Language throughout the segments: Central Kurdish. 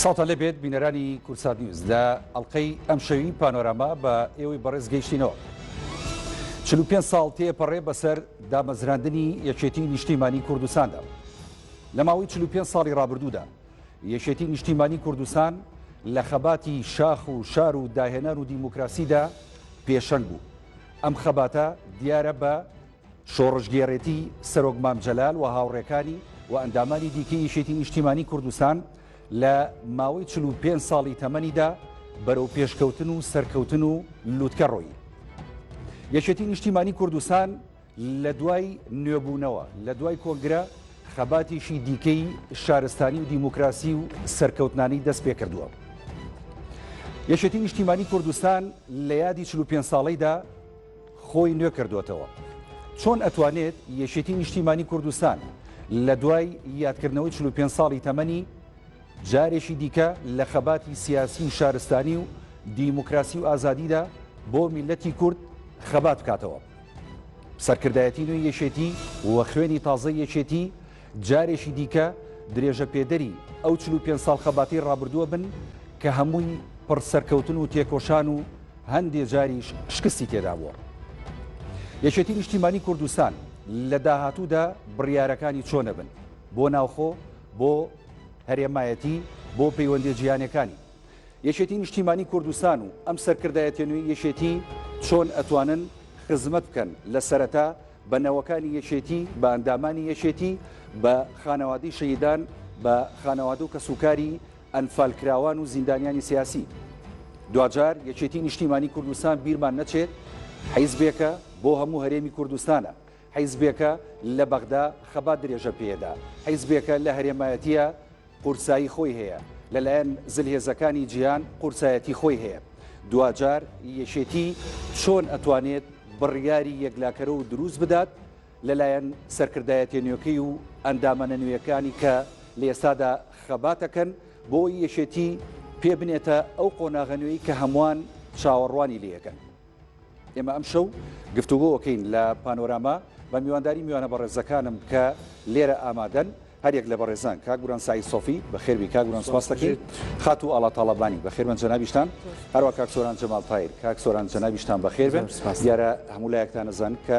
ساڵتە لەبێت بینەرانی کورسات نیوز لە ئەڵلقەی ئەم شەوی پانۆراما بە ئێوەی بەڕێز گەیشتینەوە. 45 ساڵ تێپەڕێ بەسەر دامەزراندنی یەکێتی نیشتیمانی کوردستاندا. لە ماوەی 45 ساڵی ڕابردوودا یەکێتی نیشتیمانی کوردستان لە خەباتی شاخ و شار و داهێنان و دیموکراسیدا پێشەنگ بوو. ئەم خەباتە دیارە بە شۆڕشگێڕێتی سەرۆک مام جەلال و هاوڕێکانی و ئەندامانی دیکەی یەکێتی نیشتیمانی کوردستان لە ماوەی 45 ساڵی تەمەنیدا بەرەو پێشکەوتن و سەرکەوتن و لووتکە ڕۆیی. یەکێتی نیشتیمانی کوردستان لە دوای نوێبوونەوە، لە دوای کۆنگرە، خەباتێکی دیکەی شارستانی و دیموکراسی و سەرکەوتنانی دەست پێکردووە. یەکێتی نیشتیمانی کوردستان لە یادی 45 ساڵیدا خۆی نوێ کردوێتەوە. چۆن ئەتوانێت یەکێتی نیشتیمانی کوردستان لە دوای یادکردنەوەی 45 ساڵی تەمەنی جارێکی دیکە لە خەباتی سیاسی و شارستانی و دیموکراسی و ئازادیدا بۆ میلەتی کورد خەبات بکاتەوە. سەرکردایەتی نوێی یەکێتی و خوێنی تازەی یەکێتی جارێکی دیکە درێژەپێدەری ئەو چل و پێنج ساڵ خەباتی ڕابردووە بن کە هەمووی پڕ سەرکەوتن و تێکۆشان و هەندێ جاریش شکستی تێدا بووە. یەکێتی نیشتیمانی کوردستان لە داهاتوودا بڕیارەکانی چۆنە بن بۆ ناوخۆ بۆ هەرێمایەتی بۆ پەیوەندی جیهانەکانی یەکێتی نیشتیمانی کوردستان و ئەم سەرکردایەتیە نوێی یەکێتی چۆن ئەتوانن خزمەت بکەن لە سەرەتا بە نەوەکانی یەکێتی بە ئەندامانی یەکێتی بە خانەوادەی شەهیدان بە خانەوادە و کەسوکاری ئەنفالکراوان و زیندانیانی سیاسی دواجار یەکێتی نیشتیمانی کوردستان بیرمان نەچێت حیزبێکە بۆ هەموو هەرێمی کوردستانە حیزبێکە لە بەغدا خەبات درێژە پێدا حیزبێکە لە هەرێمایەتیە قورسایی خۆی هەیە، لەلایەن زلهێزەکانی جیهان قورسایەتی خۆی هەیە. دواجار یەکێتی چۆن ئەتوانێت بڕیاری یەکلاکەرەو دروست بدات لەلایەن سەرکردایەتیە نوێکەی و ئەندامانە نوێیەکانی کە لە ئێستادا خەبات ئەکەن بۆ ئەوەی یەکێتی پێ بنێتە ئەو قۆناغە نوێی کە هەموان چاوەڕوانی لێیەکەن. ئێمە ئەمشەو گفتوگۆکەین لە پانۆراما بە میوانداری میوانە بەڕێزەکانم کە لێرە ئامادەن هەریەک لە بەڕێزان کاک گوران سعی سۆفی بە خێربی کاک گوران سپاس دەکەین خات و ئاڵا تاڵەبانی بە خێرمە جەنابیشتان هەروە کاک سۆران جەمال تایر کاک سۆران جەنابیشتان بە خێربن دیارە هەموو لایەکتان نەزان کە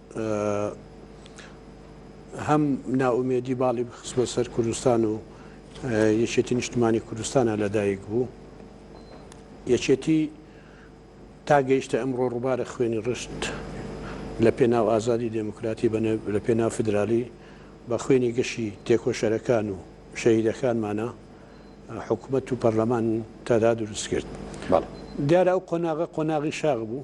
هەم نائومێدی باڵی بخست بۆ سەر کوردستان و یەکێتی نیشتمانی کوردستانە لەدایک بوو یەکێتی تا گەیشتە ئەمڕۆ ڕووبارە خوێنی ڕشت لە پێناو ئازادی دێموکراتی لە پێناو فدرالی بە خوێنی گەشی تێکۆشەرەکان و شەهیدەکانمانە حکوومەت و پەرلەمان تادا دروست کرد دیارە ئەو قۆناغە قۆناغی شاغ بوو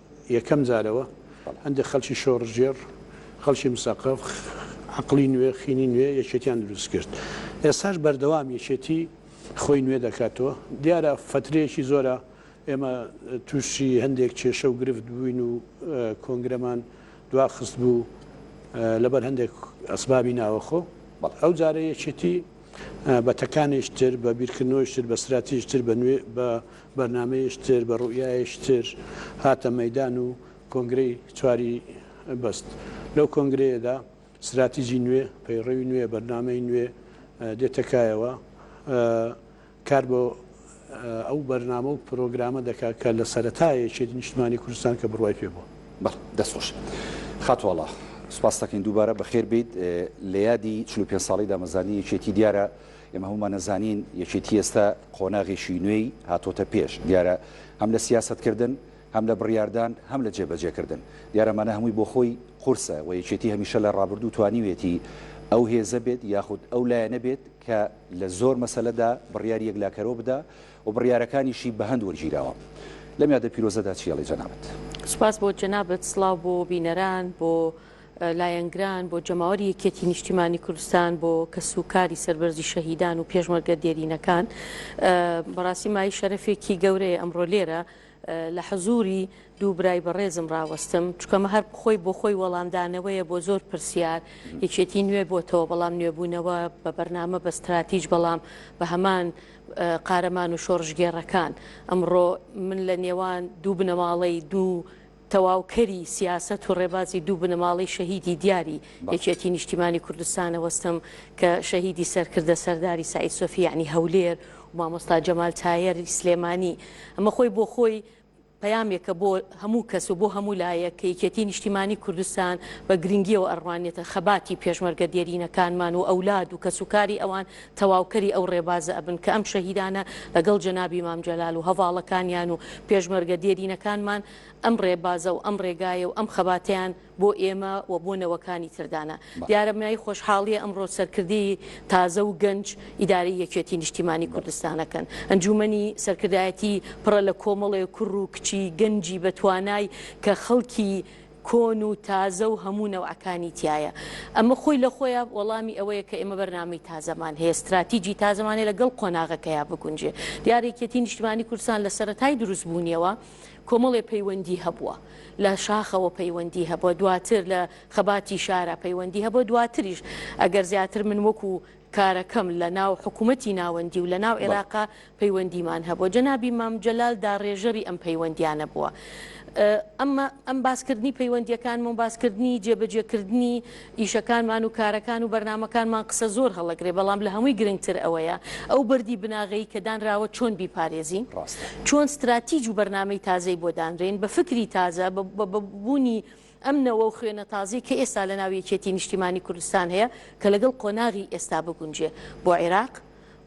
یەکەم جارەوە هەندێک خەڵکی شۆڕشگێڕ، خەڵکی مسەقەف، عەقڵی نوێ، خینی نوێ یەکێتیان دروست کرد. ئێستاش بەردەوام یەکێتی خۆی نوێ دەکاتەوە. دیارە فەترەیەکی زۆرە ئێمە تووشی هەندێک کێشە و گرفت بووین و کۆنگرەمان دوا خستبوو لەبەر هەندێک ئەسبابی ناوەخۆ. ئەو جارە یەکێتی بە تەکانێکی تر، بە بیرکردنەوەیەکی تر، بە ستراتیژی تر، بە بەرنامەیش تر، بە روئیایش تر هاتە مەیدان و کۆنگرەی چواری بەست. لەو کۆنگرەیەدا ستراتیجی نوێ، پەیڕەوی نوێ، بەرنامەی نوێ دێتە کایەوە. کار بۆ ئەو بەرنامە و پرۆگرامە دەکات کە لە سەرەتای یەکێتی نیشتمانی کوردستان کە بڕوای پێ بووە. بەڵێ، دەست خۆش خاتوو ئاڵا. سوپاست دەکەین دووبارە. بەخێر بێیت. لە یادی چل و پێنج ساڵەی دامەزرانی یەکێتی دیارە ئێمە هەموومان ئەزانین یەکێتی ئێستا قۆناغێکی نوێی هاتۆتە پێش، دیارە هەم لە سیاسەتکردن، هەم لە بڕیاردان، هەم لە جێبەجێکردن. دیارە ئەمانە هەمووی بۆ خۆی قورسە و یەکێتی هەمیشە لە ڕابردوو توانیوێتی ئەو هێزە بێت یاخود ئەو لایەنە بێت کە لە زۆر مەسەلەدا بڕیاری یەکلاکەرەوە بدا و بڕیارەکانیشی بە هەند وەرگیراوە. لەم یادە پیرۆزەدا چی ئەڵێی جەنابت؟ سوپاس بۆ جەنابت، سڵاو بۆ بینەران، بۆ. لایەنگران، بۆ جەماوەری یەکیەتی نیشتیمانی کوردستان، بۆ کەس و کاری سەربەرزی شەهیدان و پێشمەرگە دێرینەکان. بەڕاستی مایەی شەرەفێکی گەورەیە ئەمڕۆ لێرە لە حزووری دوو برای بەڕێزم ڕاوەستم، چونکە ئەمە هەر خۆی بۆ خۆی وەڵامدانەوەیە بۆ زۆر پرسیار. یەکێتی نوێ بۆتەوە، بەڵام نوێبوونەوە بە بەرنامە، بە ستراتیج، بەڵام بە هەمان قارەمان و شۆڕشگێڕەکان. ئەمڕۆ من لە نێوان دوو بنەماڵەی دوو تەواوکەری سیاسەت و ڕێبازی دوو بنەماڵەی شەهیدی دیاری یەکێتی نیشتیمانی کوردستانە وەستم کە شەهیدی سەرکردە سەرداری سەعید سۆفی یەعنی هەولێر و مامۆستا جەمال تایەر ی سلێمانی ئەمە خۆی بۆ خۆی پەیامێکە بۆ هەموو کەس و بۆ هەموو لایەک کە یەکێتی نیشتیمانی کوردستان بە گرنگیەوە ئەڕوانێتە خەباتی پێشمەرگە دێرینەکانمان و ئەولاد و کەسوکاری ئەوان تەواوکەری ئەو ڕێبازە ئەبن کە ئەم شەهیدانە لەگەڵ جەنابی مام جەلال و هەڤاڵەکانیان و پێشمەرگە دێرینەکانمان ئەم ڕێبازە و ئەم ڕێگایە و ئەم خەباتەیان بۆ ئێمە و بۆ نەوەکانی تر دانا. دیارە بنایی خۆشحاڵیە ئەمڕۆ سەرکردەی تازە و گەنج ئیدارەی یەکێتی نیشتیمانی کوردستانەکەن. ئەنجومەنی سەرکردایەتی پڕە لە کۆمەڵێ کوڕ و کچی گەنجی بەتوانای کە خەڵکی. کۆن و تازە و هەموو نەوعەکانی تیایە. ئەمە خۆی لە خۆیا وەڵامی ئەوەیە کە ئێمە بەرنامەی تازەمان هەیە، ستراتیجی تازەمان هەیە لەگەڵ قۆناغەکەیا بگونجێ. دیارە یەکێتیی نیشتمانیی کوردستان لە سەرەتای دروستبوونیەوە کۆمەڵێ پەیوەندی هەبووە. لە شاخەوە پەیوەندی هەبووە، دواتر لە خەباتی شارا پەیوەندی هەبووە، دواتریش ئەگەر زیاتر من وەکوو کارەکەم لە ناو حکوومەتی ناوەندی و لە ناو بەڵێ. عێراقا پەیوەندیمان هەبووە. جەنابی مام جەلال داڕێژەری ئەم پەیوەندییانە بووە. ئەمە ئەم باس کردنی پەیوەندییەکانم و باس کردنی جێ بە جێ کردنی ئیشەکانمان و کارەکان و بەرنامەکانمان قسە زۆر هەڵەگرێ بەڵام لە هەمووی گرنگ تر ئەوەیە ئەو بەردی بناغەی کە دانراوە چۆن بیپارێزین؟ ڕاستە. چۆن ستراتیج و بەرنامەی تازەی بۆ دانرێین؟ بە فکری تازە، بە بە بوونی ئەم نەوە و خوێنە تازەی کە ئێستا لە ناو یەکێتی نیشتیمانی کوردستان هەیە کە لەگەڵ قۆناغی ئێستا بگونجێ بۆ عیراق،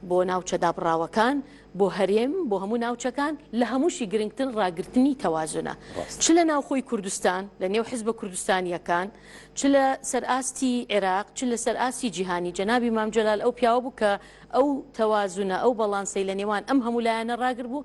بۆ ناوچە دابڕاوەکان، بۆ هەرێم، بۆ هەموو ناوچەکان، لە هەمووشی گرنگتر ڕاگرتنی تەوازنە چ لە ناوخۆی کوردستان لە نێو حزبە کوردستانییەکان، چ لە سەر ئاستی عیراق، چ لە سەر ئاستی جیهانی. جەنابی مام جەلال ئەو پیاوە بوو کە ئەو تەوازنە، ئەو بەڵانسەی لە نێوان ئەم هەموو لایەنە ڕاگربوو،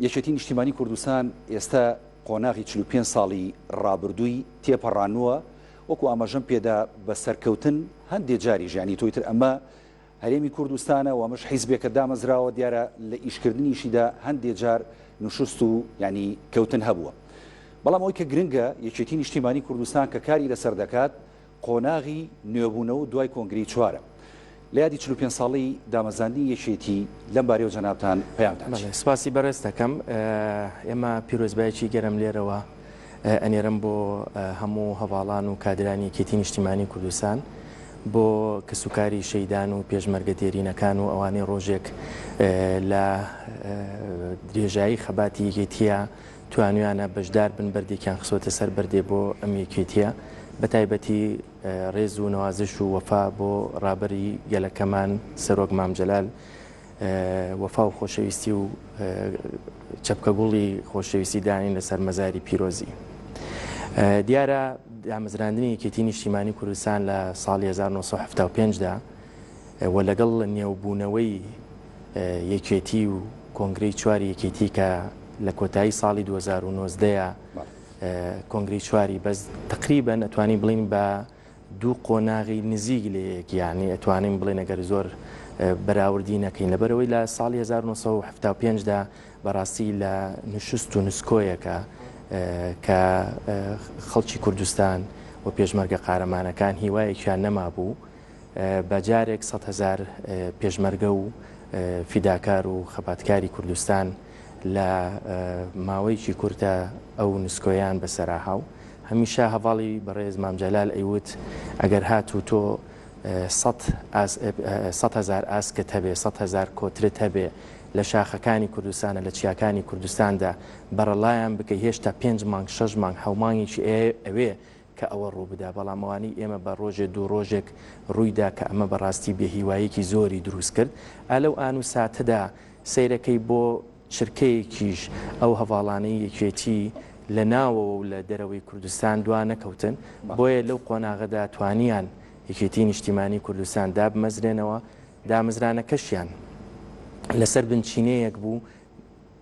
یەکێتی نیشتیمانی کوردستان ئێستا قۆناغی چل و پێنج ساڵی ڕابردووی تێپەڕانووە، وەکو ئاماژەم پێدا بە سەرکەوتن، هەندێ جاریش یانی تۆی تر ئەمە هەرێمی کوردستانە و ئەمەش حیزبێکە دامەزراوە، دیارە لە ئیشکردنیشیدا هەندێ جار نشوست و یانی کەوتن هەبووە. بەڵام ئەوەی کە گرنگە یەکێتی نیشتیمانی کوردستان کە کاری لەسەر دەکات قۆناغی نوێبوونەوەو دوای کۆنگرەی چوارەم لە یادی چل و پێنج ساڵەی دامەزراندنی یەکێتی لەم بارەیەوە جەنابتان پەیام دات. بەڵێ سپاسی بەڕێز دەکەم. ئێمە پیرۆزبایەکی گەرم لێرەوە ئەنێرم بۆ هەموو هەڤاڵان و کادرانی یەکێتی نیشتیمانی کوردستان، بۆ کەسوکاری شەیدان و پێشمەرگە دێرینەکان و ئەوانەی ڕۆژێک لە درێژایی خەباتی یەکێتییە توانویانە بەشدار بن بەردێکیان خسۆتە سەر بەردێ بۆ ئەم یەکێتیە بەتایبەتی ڕێز و نوازش و وەفا بۆ ڕابەری گەلەکەمان سەرۆک مامجلال وەفا و خۆشەویستی و چەپکە گوڵی خۆشەویستی دانین لەسەر مەزاری پیرۆزی دیارە دامەزراندنی یەکێتی نیشتیمانی کوردستان لە ساڵی 1975دا و لەگەڵ نێوبوونەوەی یەکێتی و کۆنگرەی چواری یەکێتی کە لە کۆتایی ساڵی 2019 کۆنگری چواری بەس تقریبا ئەتوانی بڵین بە دوو قۆناغی نزیک لە یەکیانی ئەتوانین بڵێن ئەگەر زۆر بەراوردی نەکەین لەبەرەوەی لە ساڵی 1970دا بەڕاستی لە نوشست و نسکۆیەکە کە خەڵکی کوردستان و پێشمەرگە قارەمانەکان هیوایەکیان نەما بوو بە جارێک سەد هەزار پێشمەرگە و فیداکار و خەباتکاری کوردستان لە ماوەیەکی کورتە ئەو نسکۆیان بەسەراها و هەمیشە هەڤاڵی بەڕێز مام جەلال ئەیوت ئەگەر هات و تۆ سەد هەزار ئاسکت هەبێ سەد هەزار کۆترت هەبێ لە شاخەکانی کوردستانە لە چیاکانی کوردستاندا بەرەڵایان بکەی هێشتا پێنج مانگ شەش مانگ حەومانگێکی ئەوێ کە ئەوە ڕووبدا، بەڵام ئەوانەی ئێمە بە ڕۆژێ دوو ڕۆژێک ڕوویدا کە ئەمە بە ڕاستی بێ هیواییەکی زۆری دروست کرد. ئا لەو ئان و ساتەدا سەیرەکەی بۆ چرکەیەکیش ئەو هەڤاڵانەی یەکێتی لە ناوەوە و لە دەرەوەی کوردستان دوا نەکەوتن، بۆیە لەو قۆناغەدا توانیان یەکێتیی نیشتیمانیی کوردستان دابمەزرێنەوە، دامەزرانەکەشیان لە سەر بنچینەیەک بوو،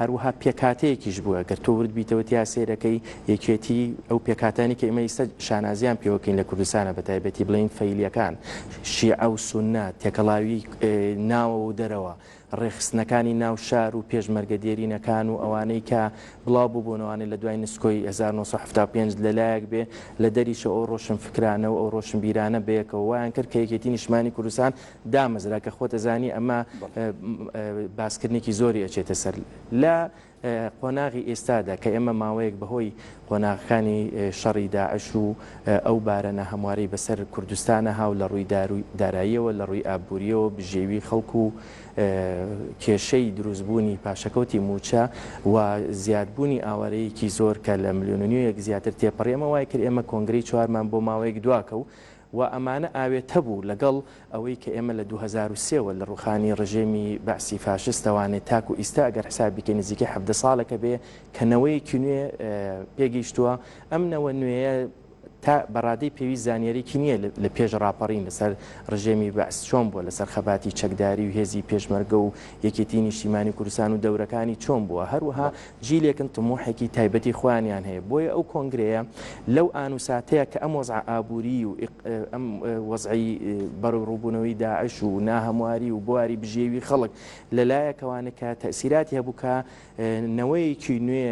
هەروەها پێکهاتەیەکیش بووە، گەر تۆ ورد بیتەوە تیا سەیرەکەی، یەکێتی، ئەو پێکهاتانەی کە ئێمە ئیستە شانازیان پێوە کەین لە کوردستانا بە تایبەتی بڵێین فەیلیەکان، شیعە و سوننە، تێکەڵاوی ناوەوە و دەرەوە، ڕێکخستنەکانی ناو شار و پێشمەرگە دێرینەکان و ئەوانەی کە بڵاو ببوونەوانەی لە دوای نسکۆی هەزار و نۆ سەد و حەفتا و پێنج لە لایەک بێ لە دەریشەوە ئەو ڕۆشنفکرانە و ئەو ڕۆشنبیرانە بەیەکەوە وایان کرد کە یەکێتی نیشتمانی کوردستان دامەزرا کە خۆت ئەزانی ئەمە باسکردنێکی زۆری ئەچێتە سەر لە قۆناغی ئێستادا کە ئێمە ماوەیەک بەهۆی قۆناغەکانی شەڕی داعش و ئەو بارەنە هەمواری بەسەر کوردستانە هاو لە ڕووی داراییەوە لە ڕووی ئابوووریەوە بژێوی خەڵکو و کێشەی دروستبوونی پاشەکەوتی موچە و زیادبوونی ئاوارەیەکی زۆر کە لە ملیۆننیوەیەک زیاتر تێپەڕێمە وای کرد ئێمە کۆنگری چوارمان بۆ ماوەیەک دواکە و و ئەمانە ئاوێتە بوو لەگەڵ ئەوەی کە ئێمە لە دوو هەزار و سێ وە لە ڕووخانی ڕژێمی بەعسی فاشستەوانێ تاکوو ئیستا ئەگەر حساب بیکەین نزیکەی حەڤدە ساڵێکە بێ کە نەوەیەکی نوێ پێ گەیشتووە ئەم نەوە نوێیە تا بە ڕادەی پێویست زانیاریەکی نییە لە پێش ڕاپەڕین لە سەر ڕژێمی بەعس چۆن بووە لە سەر خەباتی چەکداری و هێزی پێشمەرگە و یەکێتی نیشتیمانی کوردستان و دەورەکانی چۆن بووە هەروەها جیلێکن تموحێکی تایبەتی خۆیانیان هەیە بۆیە ئەو کۆنگرەیە لەو ئان و ساتەیە کە ئەم وەزعە ئابووریی و ئەم وەزعەی بەڕووڕووبوونەوەی داعش و ناهەمواری و بواری بژێوی خەڵک لە لایەکەوە نکا تەئسیراتی هەبوو کە نەوەیەکی نوێ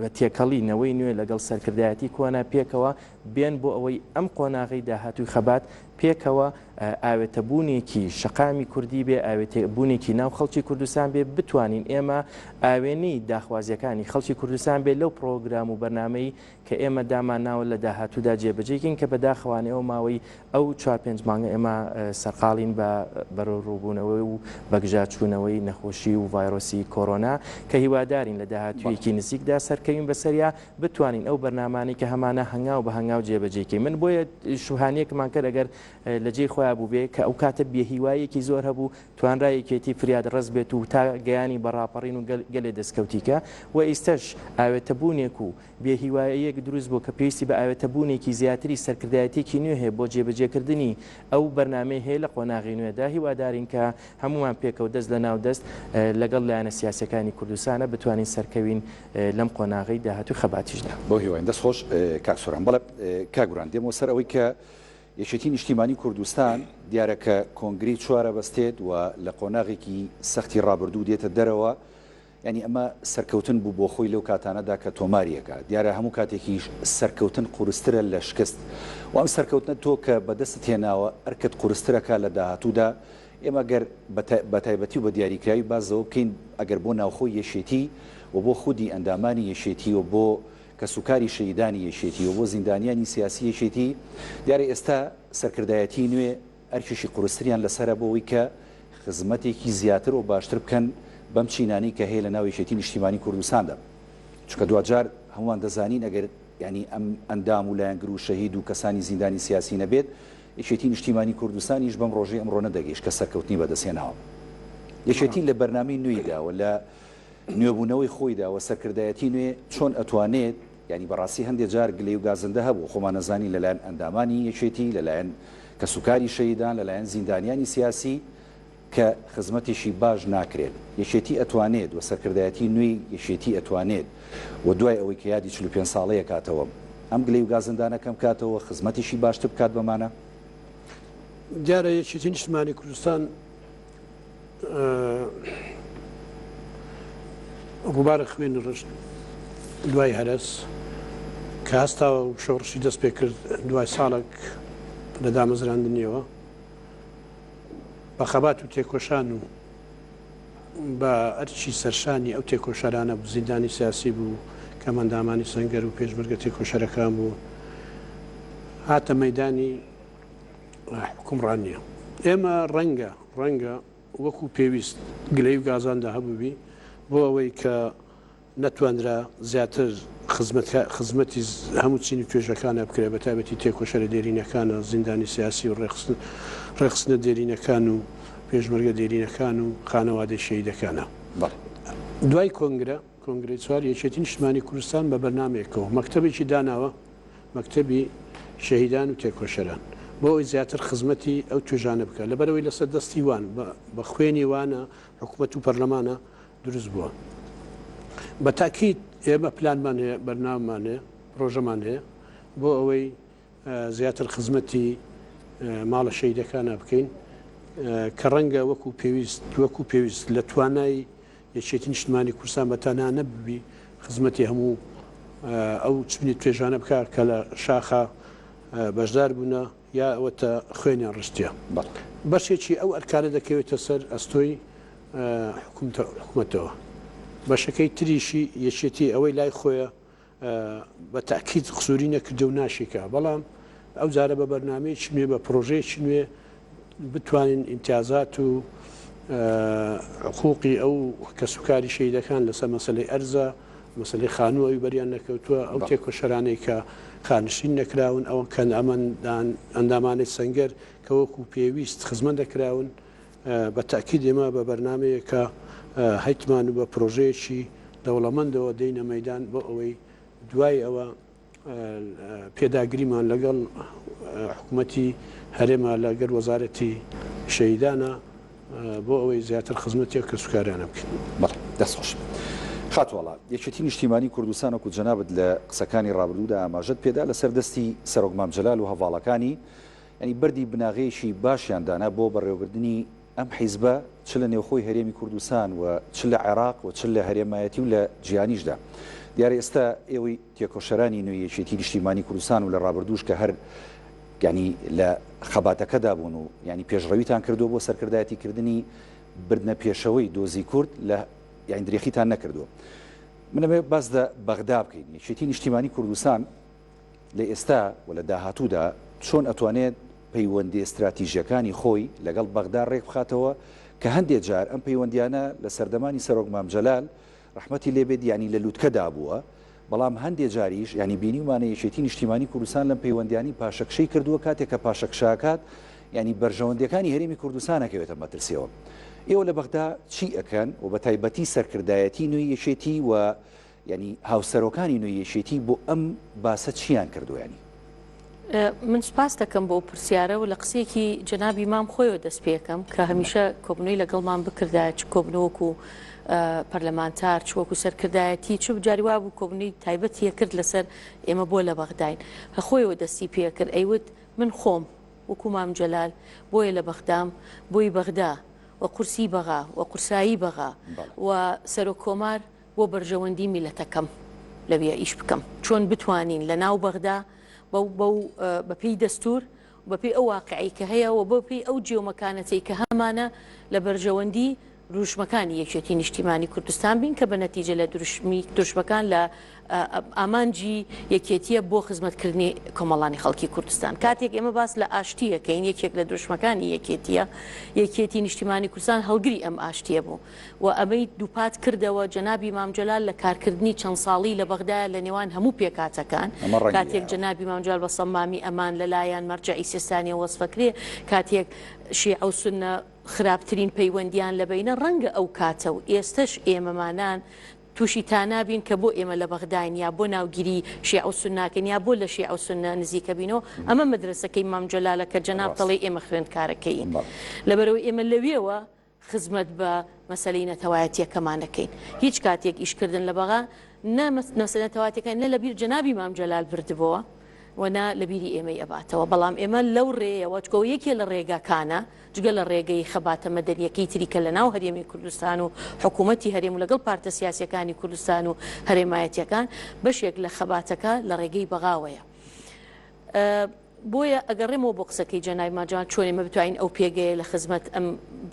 بە تێکەڵی نەوەی نوێ لەگەڵ سەرکردایەتی کۆنە پێکەوە بێن بۆ ئەوەی ئەم قۆناغەی داهاتووی خەبات پێکەوە ئاوێتەبوونێکی شەقامی کوردی بێ، ئاوێتەبوونێکی ناو خەڵکی کوردستان بێ، بتوانین ئێمە ئاوێنەی داخوازییەکانی خەڵکی کوردستان بێ لەو پڕۆگرام و بەرنامەی کە ئێمە دامانناوە لە داهاتوودا جێبەجێی کەین کە بەداخەوانە ئەو ماوەی ئەو چوار پێنج مانگە ئێمە سەرقاڵین بە بەرەوڕووبوونەوە و بەگژاچوونەوەی نەخۆشی و ڤایرۆسی کۆرۆنا کە هیوادارین لە داهاتوویەکی نزیکدا سەرکەوین بەسەریا بتوانین ئەو بەرنامانەی کە هەمانە هەنگاو بە هەنگاو جێبەجێی کەین من بۆیە شوهانیەکمان کرد ئەگەر لە جێی خۆیان بووبێ کە ئەو کاتە بێهیوایەکی زۆر هەبوو توانرا یەکێتی فریاد ڕەس بێت و تا گەیانی بە ڕاپەڕین و گەلێ دەستکەوتیکە و ئیستەش ئاوێتەبوونێک و بێهیوایەک دروست بوو کە پێویستی بە ئاوێتەبوونێکی زیاتری سەرکردایەتێکی نوێ هەیە بۆ جێبەجێکردنی ئەو بەرنامەی هەیە لە قۆناغی نوێدا هیوادارین کە هەمووان پێکەوە دەست لە ناو دەست لەگەڵ لایەنە سیاسەکانی کوردستانە بتوانین سەرکەوین لەم قۆناغەی داهاتووی خەباتیشدا. بەو هیوایەن. دەست خۆش کاک سۆران. بەڵێ کاک گوران دێمەوە سەر ئەوەی کە یەکێتی نیشتیمانی کوردستان دیارە کە کۆنگرەی چوار ئەبەستێت و لە قۆناغێکی سەختی ڕابردوو دێتە دەرەوە، یانی ئەمە سەرکەوتن بوو بۆ خۆی لەو کاتانەدا کە تۆماری ئەکا. دیارە هەموو کاتێکیش سەرکەوتن قورسترە لە شکست و ئەم سەرکەوتنە تۆ کە بەدەستت هێناوە ئەرکت قورستر ئەکا لە داهاتوودا ئێمە گەر بە تایبەتی و بە دیاریکراوی باس لەوە بکەین ئەگەر بۆ ناوخۆی یەکێتی و بۆ خودی ئەندامانی یەکێتی و بۆ کەسوکاری شەهیدانی یەکێتی و بۆ زیندانیانی سیاسی یەکێتی دیارە ئێستا سەرکردایەتی نوێ ئەرکێکی قورستریان لەسەرە بۆ ئەوەی کە خزمەتێکی زیاتر و باشتر بکەن بەم چینانەی کە هەیە لە ناو یەکێتی نیشتیمانی کوردستاندا چونکە دواجار هەموومان دەزانین ئەگەر یانی ئەم ئەندام و لایەنگر و شەهید و کەسانی زیندانی سیاسی نەبێت یەکێتی نیشتیمانی کوردستانیش بەم ڕۆژەی ئەمڕۆ نەدەگەیشت کە سەرکەوتنی بەدەستهێناوە. یەکێتی لە بەرنامەی نوێیدا و لە نوێبوونەوەی خۆیدا و سەرکردایەتی نوێ چۆن ئەتوانێت، یانی بەڕاستی هەندێ جار گلەی و گازندە هەبوو، خۆمان ئەزانین لەلایەن ئەندامانی یەکێتی، لەلایەن کەسوکاری شەهیدان، لەلایەن زیندانیانی سیاسی، کە خزمەتێکی باش ناکرێت یەکێتی ئەتوانێت و سەرکردایەتی نوێی یەکێتی ئەتوانێت و دوای ئەوەی کە یادی چل و پێنج ساڵەی ئەکاتەوە ئەم گلەی و گازندانە کەم کاتەوە خزمەتێکی باشتر بکات بەمانە. دیارە یەکێتی نیشتمانی کوردستان ڕوبارە خوێنی ڕشت دوای هەرەس کە هەستاوە و شۆڕشی دەست پێکرد دوای ساڵەک لە دامەزراندنیەوە، بە خەبات و تێکۆشان و بە ئەرکی سەرشانی ئەو تێکۆشەرانە بوو، زیندانی سیاسی بوو، کەمەندامانی سەنگەر و پێشمەرگە تێکۆشەرەکان بوو، هاتە مەیدانی حوکمڕانییە. ئێمە ڕەنگە ڕەنگە وەکوو پێویست گلەی و گازاندە هەبووبی بۆ ئەوەی کە، نەتوانرا زیاتر خزمەتی هەموو چین و توێژەکانە بکرێت، بەتایبەتی تێکۆشەرە دێرینەکان و زیندانی سیاسی و ڕێکخستنە دێرینەکان و پێشمەرگە دێرینەکان و خانەوادەی شەهیدەکانە. دوای کۆنگرە، کۆنگرەی چوار، یەکێتی نیشتمانی کوردستان بە بەرنامەیەکەوە مەکتەبێکی داناوە، مەکتەبی شەهیدان و تێکۆشەران، بۆ ئەوەی زیاتر خزمەتی ئەو توێژانە بکات، لەبەرئەوەی لەسەر دەستی وان، بە خوێنی وانە حکومەت و پەرلەمانە دروست بووە. بە تاکید ئێمە پلانمان هەیە، بەرنامەمان هەیە، پرۆژەمان هەیە بۆ ئەوەی زیاتر خزمەتی ماڵە شەهیدەکانە بکەین کە ڕەنگە وەکو پێویست وەکو پێویست لە توانای یەکێتی نیشتمانی کوردستان بە تەنها نەببی خزمەتی هەموو ئەو چبنی توێژانە بکە کە لە شاخە بەشدار بوونە. یا ئەوەتە خوێنیان ڕشتیە بەشێکی ئەو ئەرکانە دەکەوێتە سەر ئەستۆی حکومەتەوە بەشەکەی تریشی یەکێتی ئەوەی لای خۆیە بە تاکیت قسووری نەکردە و ناشیکە بەڵام ئەو جارە بە بەرنمەیەکی نوێ بە پرۆژەیەکی نوێ بتوانین ئیمتیازات و حقوقی ئەو کەسوکاری شەیدەکان لەسەر مەسلەی ئەرزە مەسەلەی خانوو ئەوی بەریان نەکەوتووە، ئەو تێکۆشەرانەی کە خانشین نەکراون، ئەوە کە ئەمەن ئەندامانی سەنگەر کە وەکوو پێویست خزمەت نەکراون، بە تەئکید ئێمە بە بەرنامەیەک کە هەیتمان و بە پرۆژەیەکی دەوڵەمەندەوە دێینە مەیدان بۆ ئەوەی دوای ئەوە پێداگریمان لەگەڵ حکومەتی هەرێمە لەگەر وەزارەتی شەهیدانە بۆ ئەوەی زیاتر خزمەتێک کە سوکارانە بکەین بەڵ دەستخش خاتوواڵا یەکێتی نیشتیمانی کوردستان وەکو جەنابت لە قسەکانی ڕابردوودا ئاماژەت پێدا لەسەر دەستی سەرۆک مام جەلال و هەڤاڵەکانی ینی بەردی بناغەیەکی باشیان دانا بۆ بەڕێوەبردنی ئەم حیزبە چ لە نێوخۆی هەرێمی کوردستان و چ لە عێراق و چ لە هەرێمایەتی و لە جیهانیشدا دیارە ئێستا ئێوەی تێکۆشەرانی نوێی یەکێتی نیشتیمانی کوردستان و لە ڕابردووش کە هەر یانی لە خەباتەکەدا بوون و یانی پێشڕەویتان کردووە بۆ سەرکردایەتی کردنی بردنە پێشەوەی دۆزی کورد لە یانی درێخیتان نەکردووە من ئەمەوێ باس دە بەغدا بکەین یەکێتی نیشتیمانی کوردستان لە ئێستا و لە داهاتوودا چۆن ئەتوانێت پەیوەندییە ستراتیژییەکانی خۆی لەگەڵ بەغدا ڕێکبخاتەوە کە هەندێ جار ئەم پەیوەندییانە لە سەردەمانی سەرۆک مام جەلال ڕەحمەتی لێ بێت یانی لە لوتکەدا بووە بەڵام هەندێ جاریش یانی بینیومانە یەکێتی نیشتیمانی کوردستان لەم پەیوەندییانی پاشەکشەی کردووە کاتێک کە پاشەکشەئەکات یانی بەرژەوەندییەکانی هەرێمی کوردستان ئەکەوێتە مەترسیەوە ئێوە لە بەغدا چی ئەکەن و بە تایبەتی سەرکردایەتی نوێی یەکێتی و یانی هاوسەرۆکانی نوێی یەکێتی بۆ ئەم باسە چییان کردووە یانی؟ من سوپاست دەکەم بۆ ئەو پرسیارە و لە قسەیەکی جەنابی مام خۆیەوە دەست پێکەم کە هەمیشە کۆبنەوەی لەگەڵمان بکردایە چ کۆبنەوەک و پەرلەمانتار چ وەکو سەرکردایەتی چ بجاری وا بوو کۆبنەوەی تایبەتیە کرد لەسەر ئێمە بۆ لە بەغداین هەخۆیەوە دەستی پێکرد ئەیوت من خۆم وەکو مام جەلال بۆیە لە بەغدام بۆی بەغدا و قورسی بەغا و قورسایی بەغا و سەرۆک کۆمار بۆ بەرژەوەندی میلەتەکەم لەوێ ئیش بکەم چۆن بتوانین لە ناو بەغدا بەو بەو بە پێی دەستور و بە پێی ئەو واقعی کە هەیە و بە پێی ئەو جێ و مەکانەتەی کە هەمانە لە بەرژەوەندی دروشمەکانی یەکێتی نیشتیمانی کوردستان بین کە بە نەتیجە لە دروشمی دروشمەکان لە ئامانجی یەکێتیە بۆ خزمەتکردنی کۆمەڵانی خەڵکی کوردستان کاتێک ئێمە باس لە ئاشتیەکەین یەکێک لە دروشمەکانی یەکێتیە یەکێتی نیشتیمانی کوردستان هەڵگری ئەم ئاشتیە بوو و ئەمەی دووپات کردەوە جەنابی مام جەلال لە کارکردنی چەند ساڵی لە بەغدایە لە نێوان هەموو پێکهاتەکان ئەمە ڕەنگی کاتێک ئێوە. جەنابی مام جەلال بە صەمامی ئەمان لە لایان مەرجەعی سیستانیەوە وەسفەکرێ کاتێک شیعە و سوننە خراپترین پەیوەندیان لە بەینە ڕەنگە ئەو کاتە و ئێستەش ئێمەمانان تووشی تانا بین کە بۆ ئێمە لە بەغداین یا بۆ ناوگیری شیعە و سونناکەین یا بۆ لە شیعە و سوننە نزیکە بینەوە ئەمە مەدرەسەکەی مام جەلالە کە جەناب ڕاست دەڵێی ئێمە خوێندکارەکەیین بەڵێ. لەبەرئەوەی ئێمە لەوێوە خزمەت بە مەسەلەی نەتەوایەتیەکەمان دەکەین هیچ کاتێک ئیش کردن لە بەغا نە مەسەلە نەتەواتەکان نە لەبیر جەنابی مام جەلال بردبۆوە و نە لە بیری ئێمەی ئەباتەوە بەڵام ئێمە لەو ڕێیەوە چکۆ یەکێ لە ڕێگاکانە جگە لە ڕێگەی خەباتە مەدەنیەکەی تری کە لە ناو هەرێمی کوردستان و حکوومەتی هەرێم و لەگەڵ پارتە سیاسیەکانی کوردستان و هەرێمایەتیەکان بەشێک لە خەباتەکە لە ڕێگەی بەغاوەیە. بۆیە ئەگەڕێمەوە بۆ قسەکەی جەنابی ماجان چۆن ئێمە بتوانین ئەو پێگەیە لە خزمەت ئەم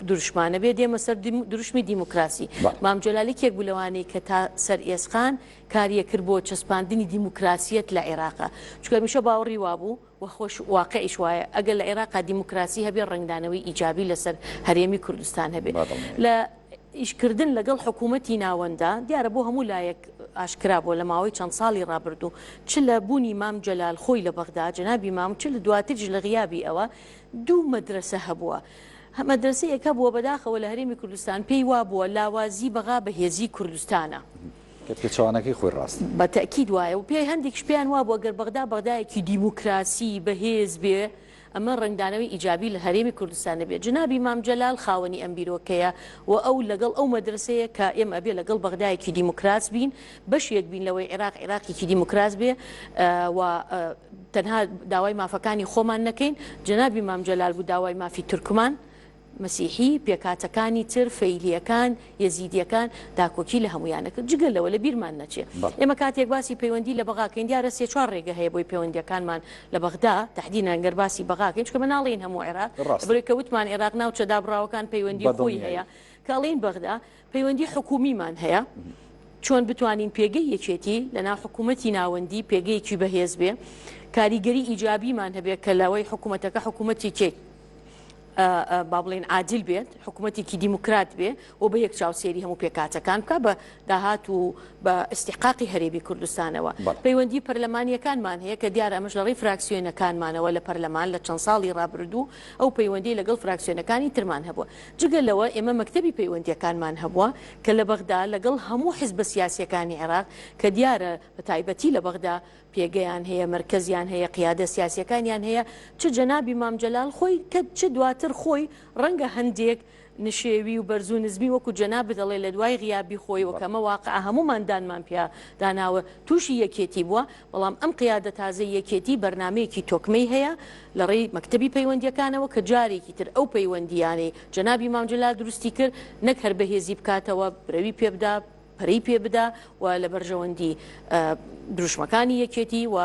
دروشمانە بێ دێمە سەر دروشمی دیموکراسی مام جەلال یەکێک بوو لەوانەی کە تا سەر ئێسقان کاریە کرد بۆ چەسپاندنی دیموکراسیەت لە عێراقا چونکە هەمیشە باوەڕی وابوو و خۆش واقعیش وایە ئەگەر لە عێراقا دیموکراسی هەبێ ڕەنگدانەوەی ئیجابی لەسەر هەرێمی کوردستان هەبێ لە ئیشکردن لەگەڵ حکوومەتی ناوەنددا دیارە بۆ هەموو لایەک ئاشکرا بووە لە ماوەی چەند ساڵی ڕابردوو، چ لە بوونی مام جەلال خۆی لە بەغدا، جەنابی مام، چ لە دواتریش لە غیابی ئەوە، دوو مەدرەسە هەبووە. مەدرەسەیەک هەبووە بەداخەوە لە هەرێمی کوردستان پێی وا بووە لاوازی بەغا بەهێزیی کوردستانە. کە پێچەوانەکەی خۆی ڕاستە. بە تەئکید وایە و پێ هەندێکیش پێیان وا بووە گەر بەغدا بەغدایەکی دیموکراسی بەهێز بێ، ئەمە ڕەنگدانەوەی ئیجابی لە هەرێمی کوردستان نەبێت جەنابی مام جەلال خاوەنی ئەم بیرۆکەیە و ئەو لەگەڵ ئەو مەدرەسەیە کە ئێمە ئەبێ لەگەڵ بەغدایەکی دیموکراس بین بەشێک بین لەوەی عێراق عێراقێکی دیموکراس بێ و تەنها داوای مافەکانی خۆمان نەکەین جەنابی مام جەلال بوو داوای مافی تورکمان مەسیحی، پێکهاتەکانی تر، فەیلییەکان، یەزیدییەکان، داکۆکی لە هەموویان دەکرد. جگە لەوە، لەبیرمان نەچێ، ئێمە کاتێک باسی پەیوەندی لە بەغا کەین، دیارە سێ چوار رێگە هەیە بۆی پەیوەندییەکانمان لە بەغدا، تەحدیدەن گەر باسی بەغا کەین، چونکە بە ناڵێین هەموو عێراق، لەبەرئەوەی کە وتمان عێراق ناوچە دابڕاوەکان پەیوەندی خۆی هەیە، کە ئەڵێین بەغدا، پەیوەندی حکوومیمان هەیە، چۆن بتوانین پێگەی یەکێتی لەناو حکوومەتی ناوەندی پێگەیەکی بەهێز بێ، کاریگەری ئیجابیمان هەبێ کە لەوەی حکوومەتەکە حکوومەتێکێک با بڵێن عادیل بێت، حکوومەتێکی دیموکرات بێ و بە یەک چاو سێری هەموو پێکاتەکان بکە بە داهات و بە ئیسیحقاقی هەرێمی کوردستانەوە. پەیوەندی پەرلەمانیەکانمان هەیە کە دیارە ئەمەش لەڕێی فراکسیۆنەکانمانەوە لە پەرلەمان لە چەند ساڵی ڕابردوو، ئەو پەیوەندیی لەگەڵ فراکسیۆنەکانی ترمان هەبووە. جگە لەوە ئێمە مەکتەبی پەیوەندییەکانمان هەبووە کە لە بەغدا لەگەڵ هەموو حزبە سیاسییەکانی عێراق کە دیارە بە تایبەتی لە بەغدا پێگەیان هەیە، مەرکەزیان هەیە، قیادە سیاسییەکانیان هەیە، چ جەنابی مام جەلال خۆی کە چ دواتر خۆی ڕەنگە هەندێک نشێوی و بەرزو نزمی وەکو جەنابت دەڵێ لەدوای غیابی خۆیەوە کەمە واقعە هەموومان دانمان پیا داناوە توشی یەکێتی بوە بەڵام ئەم قیادە تازەی یەکێتی بەرنامەیەکی تۆکمەی هەیە لەڕێی مەکتەبی پەیوەندیەکانەوە کە جارێکی تر ئەو پەیوەندیانەی جەنابی مام جەلال دروستی کرد نەک هەر بەهێزی بکاتەوە برەوی پێبدا پەرەی پێ بدا و لە بەرژەوەندی دروشمەکانی یەکێتی و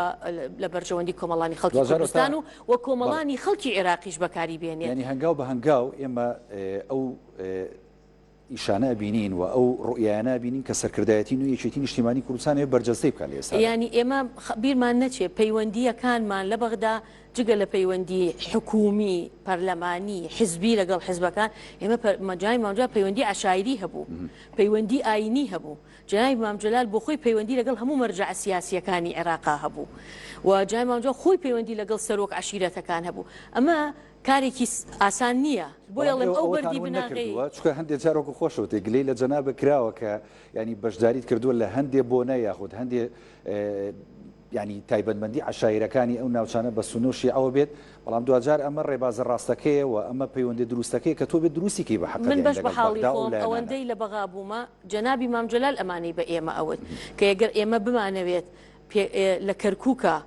لە بەرژەوەندی کۆمەڵانی خەڵکی دوازدە هەتا کوردستان و و بەڵێ کۆمەڵانی خەڵکی عێراقیش بەکاری بێنێ. یانی هەنگاو بە هەنگاو ئێمە ئەو ئیشانە ئەبینین و ئەو ڕوئیایانە ئەبینین کە سەرکردایەتی نوێی یەکێتی نیشتیمانی کوردستان ئەوێ بەرجەستەی بکا لە ئێستادا. یانی ئێمە خە بیرمان نەچێ پەیوەندییەکانمان لە بەغدا، جگە لە پەیوەندی حکوومی، پەرلەمانی، حزبی لەگەڵ حزبەکان، ئێمە جەنابی مام جەلال پەیوەندی عەشایری هەبوو، پەیوەندی ئایینی هەبوو. جەنابی مام جەلال بۆ خۆی پەیوەندی لەگەڵ هەموو مەرجەعە سیاسییەکانی عێراقا هەبوو و جەنابی مام جەلال خۆی پەیوەندی لەگەڵ سەرۆک عەشیرەتەکان هەبوو. ئەمە کارێکی ئاسان نییە. بۆیە ئەڵێم ئەو بەردی بناغەی. چونکە هەندێ جار وەکوو خۆشت وتت گلەی لە جەنابت کراوە کە یانی بەشداریت کردووە لە هەندێ بۆنە یاخود هەندێ یانی تایبەتمەندی عەشایرەکانی ئەو ناوچانە بە سونە و شیعەوە بێت، بەڵام دواجار ئەمە ڕێبازە ڕاستەکەیە و ئەمە پەیوەندە دروستەکەیە کە تۆ بێت دروستی کەی بە من حەقەدین بەش بە لەگەڵ حاڵی بەغدا و خۆم لایەنانە. ئەوەندەی لە بەغا بوومە جەنابی مام جەلال ئەمانەی بە ئێمە ئەوت کە یەگەر ئێمە بمانەوێت پێ لە کەرکوکا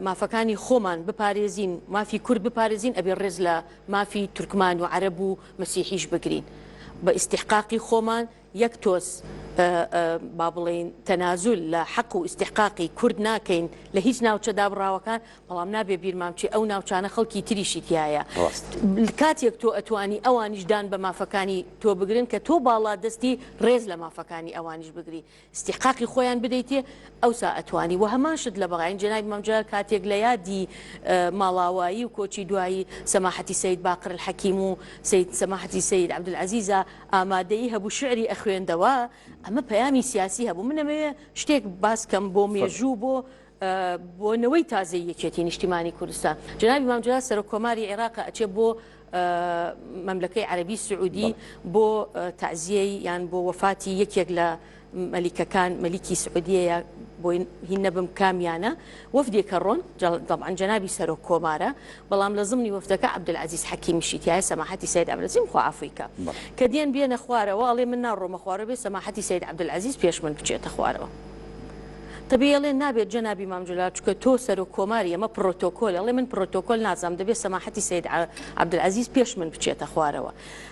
مافەکانی خۆمان بپارێزین مافی کورد بپارێزین ئەبێ ڕێز لە مافی تورکمان و عەرەب و مەسیحیش بگرین بە ئیستیحقاقی خۆمان یەک تۆز با بڵێین تەنازول لە حەق و ئیستیحقاقی کورد ناکەین لە هیچ ناوچە دابڕاوەکان، بەڵام نابێ بیرمان بچێ ئەو ناوچانە خەڵکی تریشی تیایە. ڕاست. کاتێک تۆ ئەتوانی ئەوانیش دان بە مافەکانی تۆ بگرن کە تۆ باڵادەستی ڕێز لە مافەکانی ئەوانیش بگری، ئیستیحقاقی خۆیان بدەیتێ ئەوسا ئەتوانی و هەمان شت لە بەغاین جەنابی مام جەلال کاتێک لە یادی ماڵاوایی و کۆچی دوایی سەماحەتی سەید باقر الحەکیم و سەید سەماحەتی سەید عەبدولعەزیزە ئامادەیی هەبوو شیعری ئەخوێندەوە ئەمە پەیامی سیاسی هەبوو من ئەمەوێ شتێک باس کەم بۆ مێژوو بۆ بۆ نەوەی تازەی یەکێتی نیشتیمانی کوردستان جنابی مام جلال سەرۆک کۆماری عێراق ئەچێ بۆ مەملەکەی عەربی سعودی بۆ تعزیەی یان بۆ وەفاتی یەکێک لە مەلیکەکان مەلیکی سعودیەیە بۆی هین نەبم کامیانە وەفدێکە ڕۆن دەبان جەنابی سەرۆک کۆمارە بەڵام لە زمنی وەفتەکە عبدعزیز حەکیمیشیتیایە سەماحەتی سید ئەمرزیم خوافیکە کە دێن بێنە خوارەوە ئەڵێ من ناڕۆمە خوارە بێ سەماحەتی سید عبدعزیز پێش من بچێتە خوارەوە تەبیڵێ نابێت جەنابی مامجللا چکە تۆ سەرۆک کۆماری ئەمە پرۆتۆکۆل ئەڵێ من پرۆتۆکۆل نازام دەبێت سەماحەتی سید عبدعزیز پێش من بچێتە خوارەوە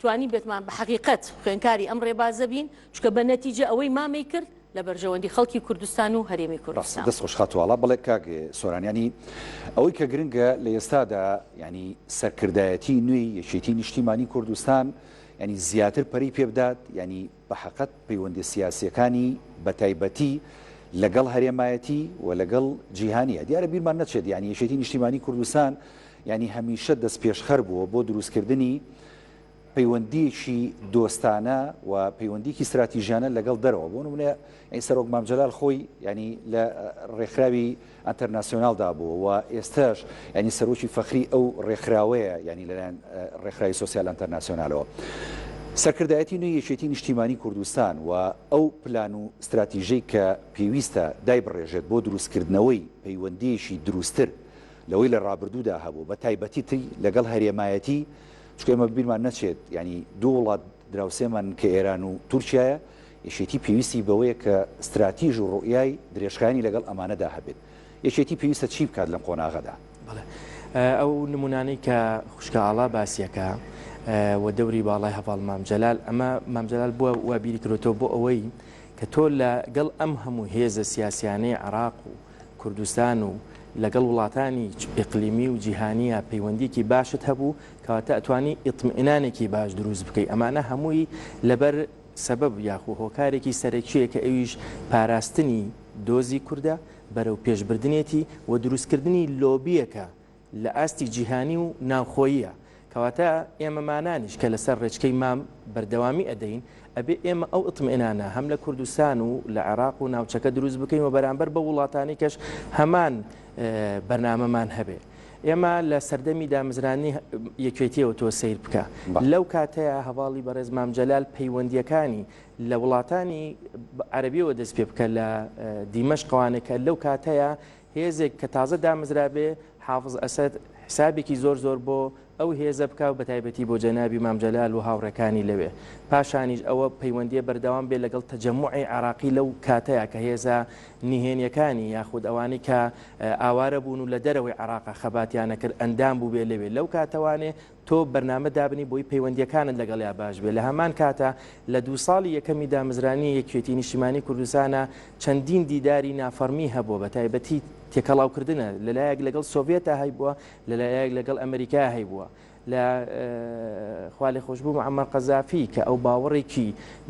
توانی بێتمان بە حەقیقەت خوێنکاری ئەم ڕێبازە بین چکە بە نەتیجە ئەوەی مامەی کرد لە بەرژەوەندی خەڵکی کوردستان و هەرێمی کوردستان. دەست خۆش خاتو ئاڵا بەڵێ کاک سۆران یانی ئەوەی کە گرنگە لە ئێستادا یانی سەرکردایەتی نوێی یەکێتی نیشتیمانی کوردستان یانی زیاتر پەرەی پێبدات یانی بەحەقت پەیوەندیە سیاسیەکانی بەتایبەتی لەگەڵ هەرێمایەتی و لەگەڵ جیهانیە دیارە بیرمان نەچێت یانی یەکێتی نیشتیمانی کوردستان یانی هەمیشە دەست پێشخەر بووە بۆ دروستکردنی پەیوەندیەکی دۆستانە و پەیوەندیکی ستراتیژیانە لەگەڵ دەرەوە بۆ نمونە ئەی سەرۆک مامجلال خۆی ینی لە ڕێکخراوی ئەنتەرناسیۆنال دابوو و ئێستاش یانی سەرۆکی فەخری ئەو ڕێکخراوەیە یانی لەلایەن ڕێکخراوی سۆسیال ئەنتەرناسیۆنالەوە سەرکردایەتی نوێی یەکێتی نیشتیمانی کوردستان و ئەو پلان و ستراتیژەی کە پێویستە دایبڕێژێت بۆ دروستکردنەوەی پەیوەندییەکی دروستتر لەوەی لە ڕابردوودا هەبوو بە تایبەتیی لەگەڵ هەرێمایەتی چونکە ئێمە بیرمان نەچێت یانی دوو وڵات دراوسێمان کە ئێران و تورکیایە یەکێتی پێویستی بەوەیە کە ستراتیژ و ڕوئیای درێژخایەنی لەگەڵ ئەمانەدا هەبێت. یەکێتی پێویستە چی بکات لەم قۆناغەدا؟ بەڵێ ئەو نمونانەی کە خوشکە ئاڵا باسیەکە و دەوری باڵای هەڤاڵ مام جەلال ئەمە مام جەلال بووە وا بیری کرۆتەوە بۆ ئەوەی کە تۆ لە گەڵ ئەم هەموو هێزە سیاسیانەی عراق و کوردستان و لەگەڵ وڵاتانی ئقلیمی و جیهانیە پەیوەندیکی باشت هەبوو کەواتە ئەتوانی ئیتمئنانێکی باش دروست بکەی ئەمانە هەمووی لەبەر سەبەب یاخو هۆکارێکی سەرەکیە کە ئەویش پاراستنی دۆزی کوردە، بەرەو پێشبردنێتی و دروستکردنی لۆبیەکە لە ئاستی جیهانی و ناوخۆییە، کەواتە ئێمەمانانیش کە لەسەر ڕێچکەی مام بەردەوامی ئەدەین ئەبێ ئێمە ئەو ئیتمئنانە هەم لە کوردستان و لە عێراق و ناوچەکە دروست بکەین و بەرامبەر بەو وڵاتانیکەش هەمان بەرنامەمان هەبێ. ئێمە لە سەردەمی دامزرانی یەکێتیەوە تۆ سیر بکە لەو کاتەیە هەواڵی بەڕێز مام جەلال پەیوەندیەکانی لە وڵاتانی عەربیەوە دەست پێ بکە لە دیمەش قوانەکە لەو کاتەیە هێزێک کە تازە دامزرابێ حافظ ئەسد حسابێکی زۆر زۆر بۆ ئەو هێزە بکا و بەتایبەتی بۆ جەنابی مام جەلال و هاوڕێکانی لەوێ. پاشانیش ئەوە پەیوەندیە بەردەوام بێ لەگەڵ تەجەموعی عێراقی لەو کاتەیا کە هێزە نهێنیەکانی یاخود ئەوانەی کە ئاوارە بوون و لە دەرەوەی عێراقا خەباتیان ئەکرد ئەندام بووبێ لەوێ. لەو کاتەوانێ تۆ بەرنامە دابنی بۆی پەیوەندیەکانت لەگەڵیا باش بێ. لە هەمان کاتا لە دوو ساڵی یەکەمی دامەزرانی یەکیەتی نیشتیمانی کوردستانا چەندین دیداری نافەڕمی هەبووە بەتایبەتی تێکەڵاوکردنە لەلایەک لەگەڵ سۆڤێتا هەیبووە لەلایەک لەگەڵ ئەمریکا هەیبووە لە خوا لێ خۆشبوو معمەر قەزافی کە ئەو باوەڕێکی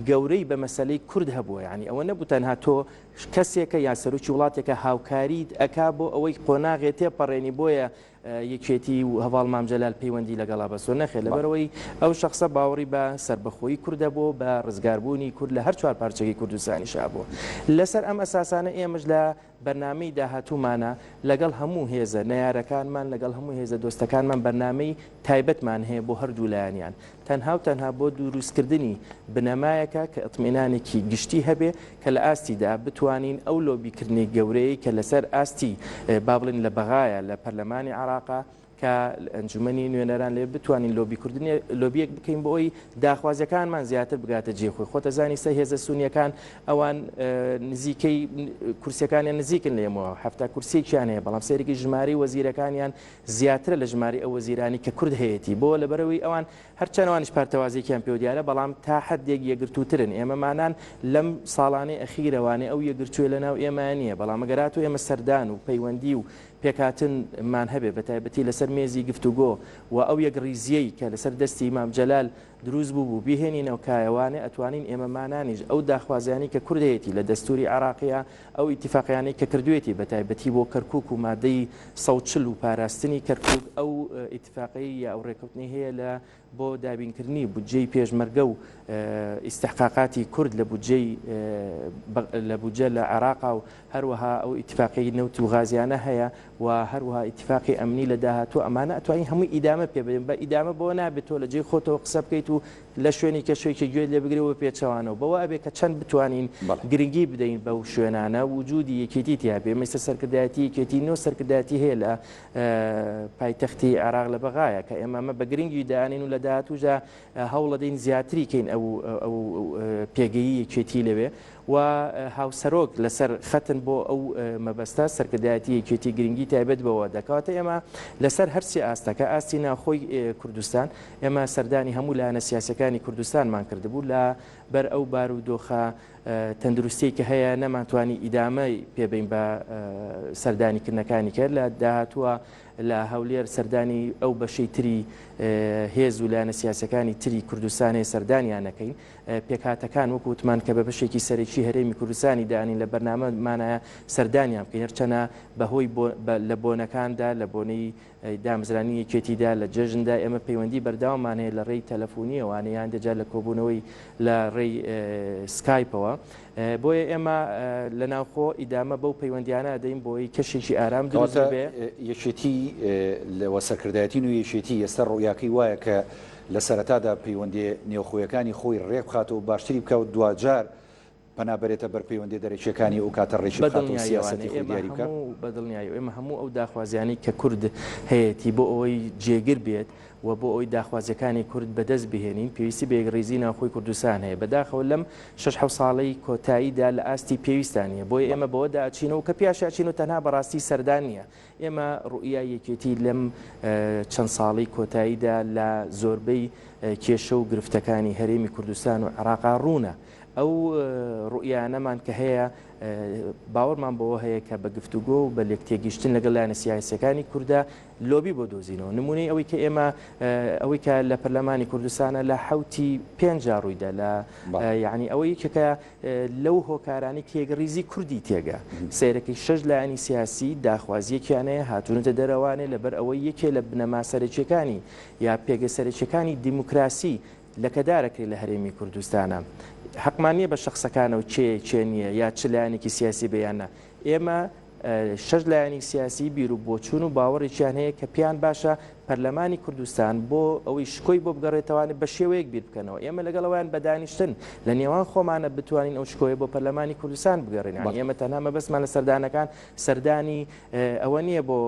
گەورەی بە مەسلەی کورد هەبووە ینی ئەوە نەبوو تەنها تۆ کەسێکە یا سەرکی وڵاتێکە هاوکاریت ئەک بۆ ئەوەی قۆناغێ تێپەڕێنی بۆیە یەکێتی و هەواڵ مامجلال پەیوەندی لەگەڵا بەسۆ نەخێت لەبەرەوەی ئەو شخصە باوەڕی بە سربەخۆی کوردە بۆ بە ڕزگاربوونی کورد لە هەر چوار پارچەکەی کوردستانیشا بوو لەسەر ئەم ئەساسانە ئێمەش لە بەرنامەی داهاتوومانە لەگەڵ هەموو هێزە نەیارەکانمان، لەگەڵ هەموو هێزە دۆستەکانمان بەرنامەی تایبەتمان هەیە بۆ هەردوو لایەنیان، تەنها و تەنها بۆ دوروستکردنی بنەمایەکە کە ئیتمئینانێکی گشتی هەبێ کە لە ئاستیدا بتوانین ئەو لۆبیکردنەی گەورەیەی کە لەسەر ئاستی با بڵێین لە بەغایە لە پەرلەمانی عێراقە، کە لە ئەنجومەنی نوێنەران لەوێ بتوانین لۆبیکردنی لۆبیەک بکەین بۆ ئەوی داخوازیەکانمان زیاتر بگاتە جێ خۆی خۆتە زانی سە هێزە سونیەکان ئەوان نزیکەی کورسەکانیان نزیکن لێمەوە هەفتا کورسێکیان هەیە بەڵام سەرێکی ژماری وەزیرەکانیان زیاترە لە ژماری ئەو وەزیرانی کە کورد هەیەی بۆ لەبەرەوەی ئەوان هەرچەنەوانش پارتەوازێکیان پێ دیارە بەڵام تا حدێک یەگرتووترن ئێمەمانان لەم ساڵانەی ئەخیرەوانێ ئەو یەگرتوێ لە ناو ئێمە نییە بەڵام گەرات و ئێمە سەردان و پەیوەندی و پێکهاتن مان هەبێ بەتایبەتی لەسەر مێزی گفتوگۆ وە ئەو یەکڕیزیەی کە لەسەر دەستی مام جەلال دروست بوبو بیهێنینەوە کایە وانە ئەتوانین ئێمە مانانیش ئەو داخوازیانەی کە کورد هەیەتی لە دەستوری عێراقیا ئەو ئیتیفاقیانەی کە کردوێتی بەتایبەتی بۆ کەرکوک و مادەی سەد و چل و پاراستنی کەرکوک ئەو ئیتیفاقەی یا ئەو ڕێکەوتنەی هەیە لە بۆ دابینکردنی بودجەی پێشمەرگە و ئیستحقاقاتی کورد لە بودجەی لە بودجە لە عێراقا و هەروەها ئەو ئیتفاقی نەوت و غازیانە هەیە و هەروەها ئیتفاقی ئەمنی لە داهاتوو ئەمانە ئەتوانین هەمووی ئیدامە پێ بدەین بە ئیدامە بەوە نابێت تۆ لە جێی خۆتەوە قسە بکەیت و لە شوێنی کەسێکی گوێت لێ بگرێ و پێچەوانەوە بەوە ئەبێ کە چەند بتوانین گرنگی بدەین بەو شوێنانە وجودی یەکێتی تیا بێ مەسە سەرکردایەتی یەکێتی نۆ سەرکردایەتی هەیە لە پایتەختی عێراق لە بەغایە، کە ئێمە ئەمە بە گرنگی دانین و لە داهاتووشدا هەوڵەدەین زیاتری کەین ئەو پێگەی یەکێتی لەوێ و هاوسەرۆک لەسەر خەتن بۆ ئەو مەبەستە، سەرکردایەتی یەکێتی گرنگی تایبەت بەوە دەکا. واتە ئێمە لەسەر هەر سێ ئاستەکە، ئاستی ناوخۆی کوردستان، ئێمە سەردانی هەموو لایەنە سیاسیەکانی کوردستانمان کردبوو لە بەر ئەو بارودۆخە، تەندروستیی کە هەیە نەمانتوانی ئیدامەی پێبەین بە سەردانی کردنەکانی کە لە داهاتووە لە هەولێر سەردانی ئەو بەشەی تری هێز و لایەنە سیاسەکانی تری کوردستانێ سەردانیان نەکەین پێکهاتەکان وەکو وتمان کە بە بەشێکی سەرەکی هەرێمی کوردستانی دانین لە بەرنامەمانە سەردانیان بکەین هەرچەنە بەهۆی لە بۆنەکاندا لە بۆنەی دامزرانی یەکێتی دا لە جەژن دا ئێمە پەیوەندی بەردەوامان هەیە لە ڕێی تەلەفونیەوە یانێ هەندێ جار لە کۆبوونەوەی لە ڕێی سکایپەوە بۆیە ئێمە لە ناوخۆ ئیدامە بەو پەیوەندیانە دەین بۆی کەشێکی ئارام دروست کەواتە بێ یەکێتی لەوە سەرکردایەتی نوێی یەکێتی ئێستا ڕوئیاکەی وایە کە لە سەرەتادا پەیوەندییە نێوخۆیەکانی خۆی ڕێک بخاتەوە باشتری بکا و دواجار پەنا بەرێتە بەر پەیوەندیە دەرەکیەکانی ئەو کاتە ڕێکی بخاتەوە و سیاسەتی خۆی دیاری بکا. بە دڵنیایی و ئێمە هەموو ئەو داخوازیانەی کە کورد هەیەتی بۆ ئەوەی جێگر بێت و بۆ ئەوەی داخوازیەکانی کورد بە دەست بهێنین پێویستی بە یەکڕیزی ناوخۆی کوردستان هەیە بە داخەوە لەم شەش حەوت ساڵەی کۆتایی دا لە ئاستی پێویستدا نیە بۆیە ئێمە بەوەدا ئەچینەوە کە پیاش ئەچین و تەنها بە ڕاستی سەردا نیە ئێمە ڕوئیای یەکێتی لەم چەند ساڵەی کۆتایی دا لە زۆربەی کێشە و گرفتەکانی هەرێمی کوردستان و عێڕاقا ڕوونە. ئەو ڕوئیانەمان کە هەیە باوەڕمان بەوە هەیە کە بە گفتوگۆ و بە لێکتێگیشتن لەگەڵ لایەنە سیاسیەکانی کورددا لۆبی بۆ دۆزینەوە نمونەی ئەوەی کە ئێمە ئەوەی کە لە پەرلەمانی کوردستانە لە حوتی پێنج ڕوویدا لە یعنی ئەوە یەکێکە لەو هۆکارانی کێگەڕیزی کوردی تێگە سیرەکەی شەش لایەنی سیاسی داخوازیەکیانەیە هاتوونەتە دەرەوانێ لەبەر ئەوەی یەکێ لە بنەما سەرەکیەکانی یا پێگە سەرەکیەکانی دیموکراسی لەکەدارەکەی لە هەرێمی کوردستانە حەقمان نییە بە شەخسەکانە و کێ کێ نییە یا چ لایەنێکی سیاسی بیانە ئێمە شەش لایەنی سیاسی بیر و بۆچون و باوەڕێکیان هەیە کە پێیان باشە پەرلەمانی کوردستان بۆ ئەوەی شکۆی بۆ بگەڕێتەوانێت بە شێوەیەک بیر بکەنەوە ئێمە لەگەڵەوەیان بەدانیشتن لە نێوان خۆمانە بتوانین ئەو شکۆیە بۆ پەرلەمانی کوردستان بگەڕێن ئێمە تەنها مەبەستمان لە سەردانەکان سەردانی ئەوە نییە بۆ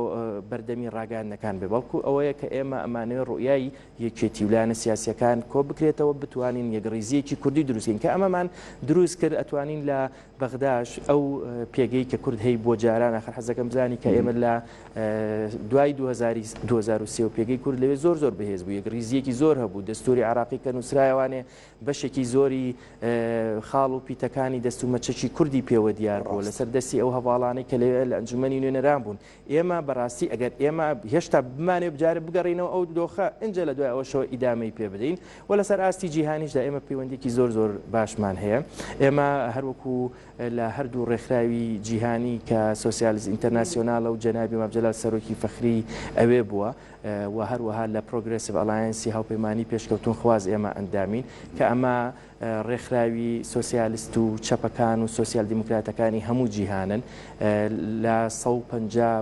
بەردەمی ڕاگەاندنەکان بێ بەڵکو ئەوەیە کە ئێمە ئەمانەوە ڕوئایی یەکێتی و لایەنە سیاسیەکان کۆبکرێتەوە بتوانین یەکڕیزیەکی کوردی دروست کەین کە ئەمەمان دروست کرد ئەتوانین لە بەغداش ئەو پێگەی کە کورد هەی بۆ جاران ئاخر حەزەکەم بزانی کە ئێمە لە دوای 2023 و پێگەی کورد لەوێ زۆر زۆر بەهێز بوو یەکڕیزیەکی زۆر هەبوو دەستوری عراقی کە نووسرایوانێ بەشێکی زۆری خاڵ و پیتەکانی دەست و مەچەکی کوردی پێوە دیار بوو لەسەر دەستی ئەو هەواڵانەی کە لەوێ لە ئەنجومەنی نوێنەران بوون ئێمە بەڕاستی ئەگەر ئێمە هێشتا بمانێ بجارە بگەڕینەوە ئەو دۆخە ئنجە لە دوای ئەوەشەوە ئیدامەی پێ بدەین و لەسەر ئاستی جیهانیشدا ئێمە پەیوەندێکی زۆر زۆر باشمان هەیە ئێمە هەروەکو لە هەردوو ڕێکخراوی جیهانی کە سوسیالز ئینتەرناسیۆنالە و جەنابی مابجلال سەرۆکی فەخری ئەوێ بووە و هەروەها لە پرۆگرسیڤ ئەلایەنسی هاوپەیمانانی پێشکەوتون خواز ئێمە ئەندامین کە ئەمە ڕێکخراوی سۆسیالست و چەپەکان و سۆسیال دیموکراتەکانی هەموو جیهانن، لە سەد و پەنجا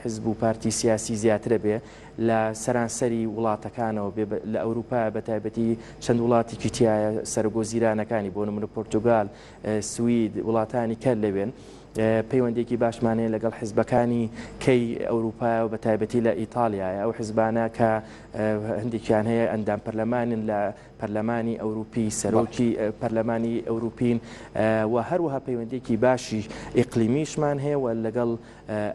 حزب و پارتی سیاسی زیاترە بێ، لە سەرانسەری وڵاتەکانەوە بێ، لە ئەوروپایە بە تایبەتی چەند وڵاتیکی تیایە سەرۆک وەزیرانەکانی بۆ نمونە پورتوگال، سوید، وڵاتانی کە لەوێن پەیوەندیەکی باشمان هەیە لەگەڵ حزبەکانی کەی ئەوروپایەوە بە تایبەتی لە ئیتالیایە ئەو حزبانە کە هەندێکیان هەیە ئەندام پەرلەمانن لە پەرلەمانی ئەوروپی، سەرۆکی پەرلەمانی ئەوروپین و هەروەها پەیوەندیەکی باشی ئیقلیمیشمان هەیە و لەگەڵ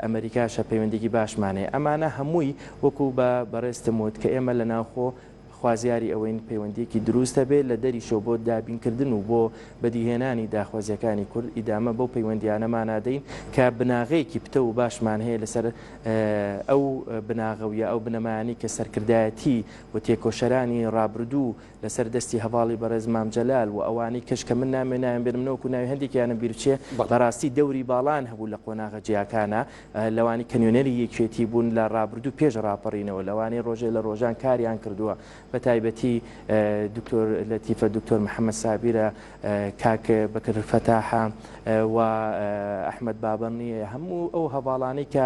ئەمریکاشە پەیوەندیکی باشمان هەیە ئەمانە هەمووی وەکو بە بەڕێزتم وت کە ئێمە لە ناوخۆ خوازیاری ئەوەین پەیوەندیەکی دروست هەبێت لە دەریشەوە بۆ دابینکردن و بۆ بەدیهێنانی داخوازیەکانی کورد ئیدامە بەو پەیوەندیانەمانا دەین کە بناغەیەکی پتەو و باشمان هەیە لەسەر ئەو بناغە و یا ئەو بنەمایانەی کە سەرکردایەتی و تێکۆشەرانی ڕابردوو لە سەر دەستی هەڤاڵی بەڕێز مام جەلال و ئەوانەی کەش کە من نامێ نایان بێرم نەوەکو ناوی هەندێکیانم بیر بچێ بە ڕاستی دەوری باڵان هەبوو لە قۆناغە جیاکانا لەوانی کە نوێنەری یەکێتی بوون لە ڕابردوو پێش ڕاپەڕینەوە لەوانەی ڕۆژێ لە ڕۆژان کاریان کردووە بە تایبەتی دکتۆر لەتیفە دکتۆر محەمەد سابیرە کاک بەکر فەتاحە و ئەحمەد بابەننیە هەموو ئەو هەڤاڵانەی کە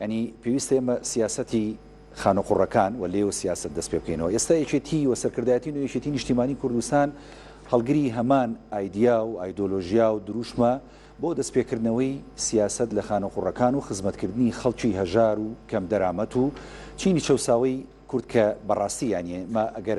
یانی پێویستە ئێمە سیاسەتی خانوقوڕەکان و لێو سیاسەت دەست پێ بکەینەوە ئێستا یەکێتی و سەرکردایەتی و یەکێتی نیشتیمانی کوردستان هەڵگری هەمان ئایدیا و ئایدۆلۆژیا و دروشمە بۆ دەستپێکردنەوەی سیاسەت لە خانوقوڕەکان و خزمەتکردنی خەڵکی هەژار و کەم دەرامەت و چینی چەوساوەی کورد کە بەڕاستی یانیە مە ئەگەر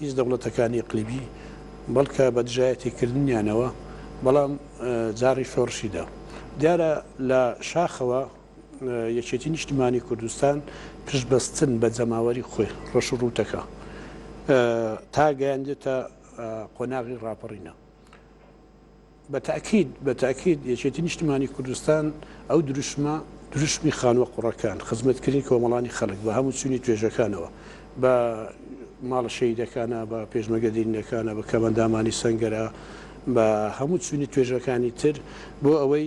هیچ دەوڵەتەکانی ئیقلیمی بەڵکە بە دژایەتی کردنیانەوە بەڵام جاڕی شۆڕشی دا. دیارە لە شاخەوە یەکێتی نیشتمانی کوردستان پشت بەستن بە جەماوەری خۆی ڕەش و ڕووتەکە تا گەیاندێتە قۆناغی ڕاپەڕینە. بە تاکید بە تاکید یەکێتی نیشتمانی کوردستان ئەو دروشمە دروشمی خانوە قوڕەکان خزمەت کردنی کۆمەڵانی خەلک بە هەمو چونی توێژەکانەوە بە ماڵە شەهیدەکانە بە پێشمەگە دێرینەکانە بە کەمەندامانی سەنگەرە بە هەمو چونی توێژەکانی تر بۆ ئەوەی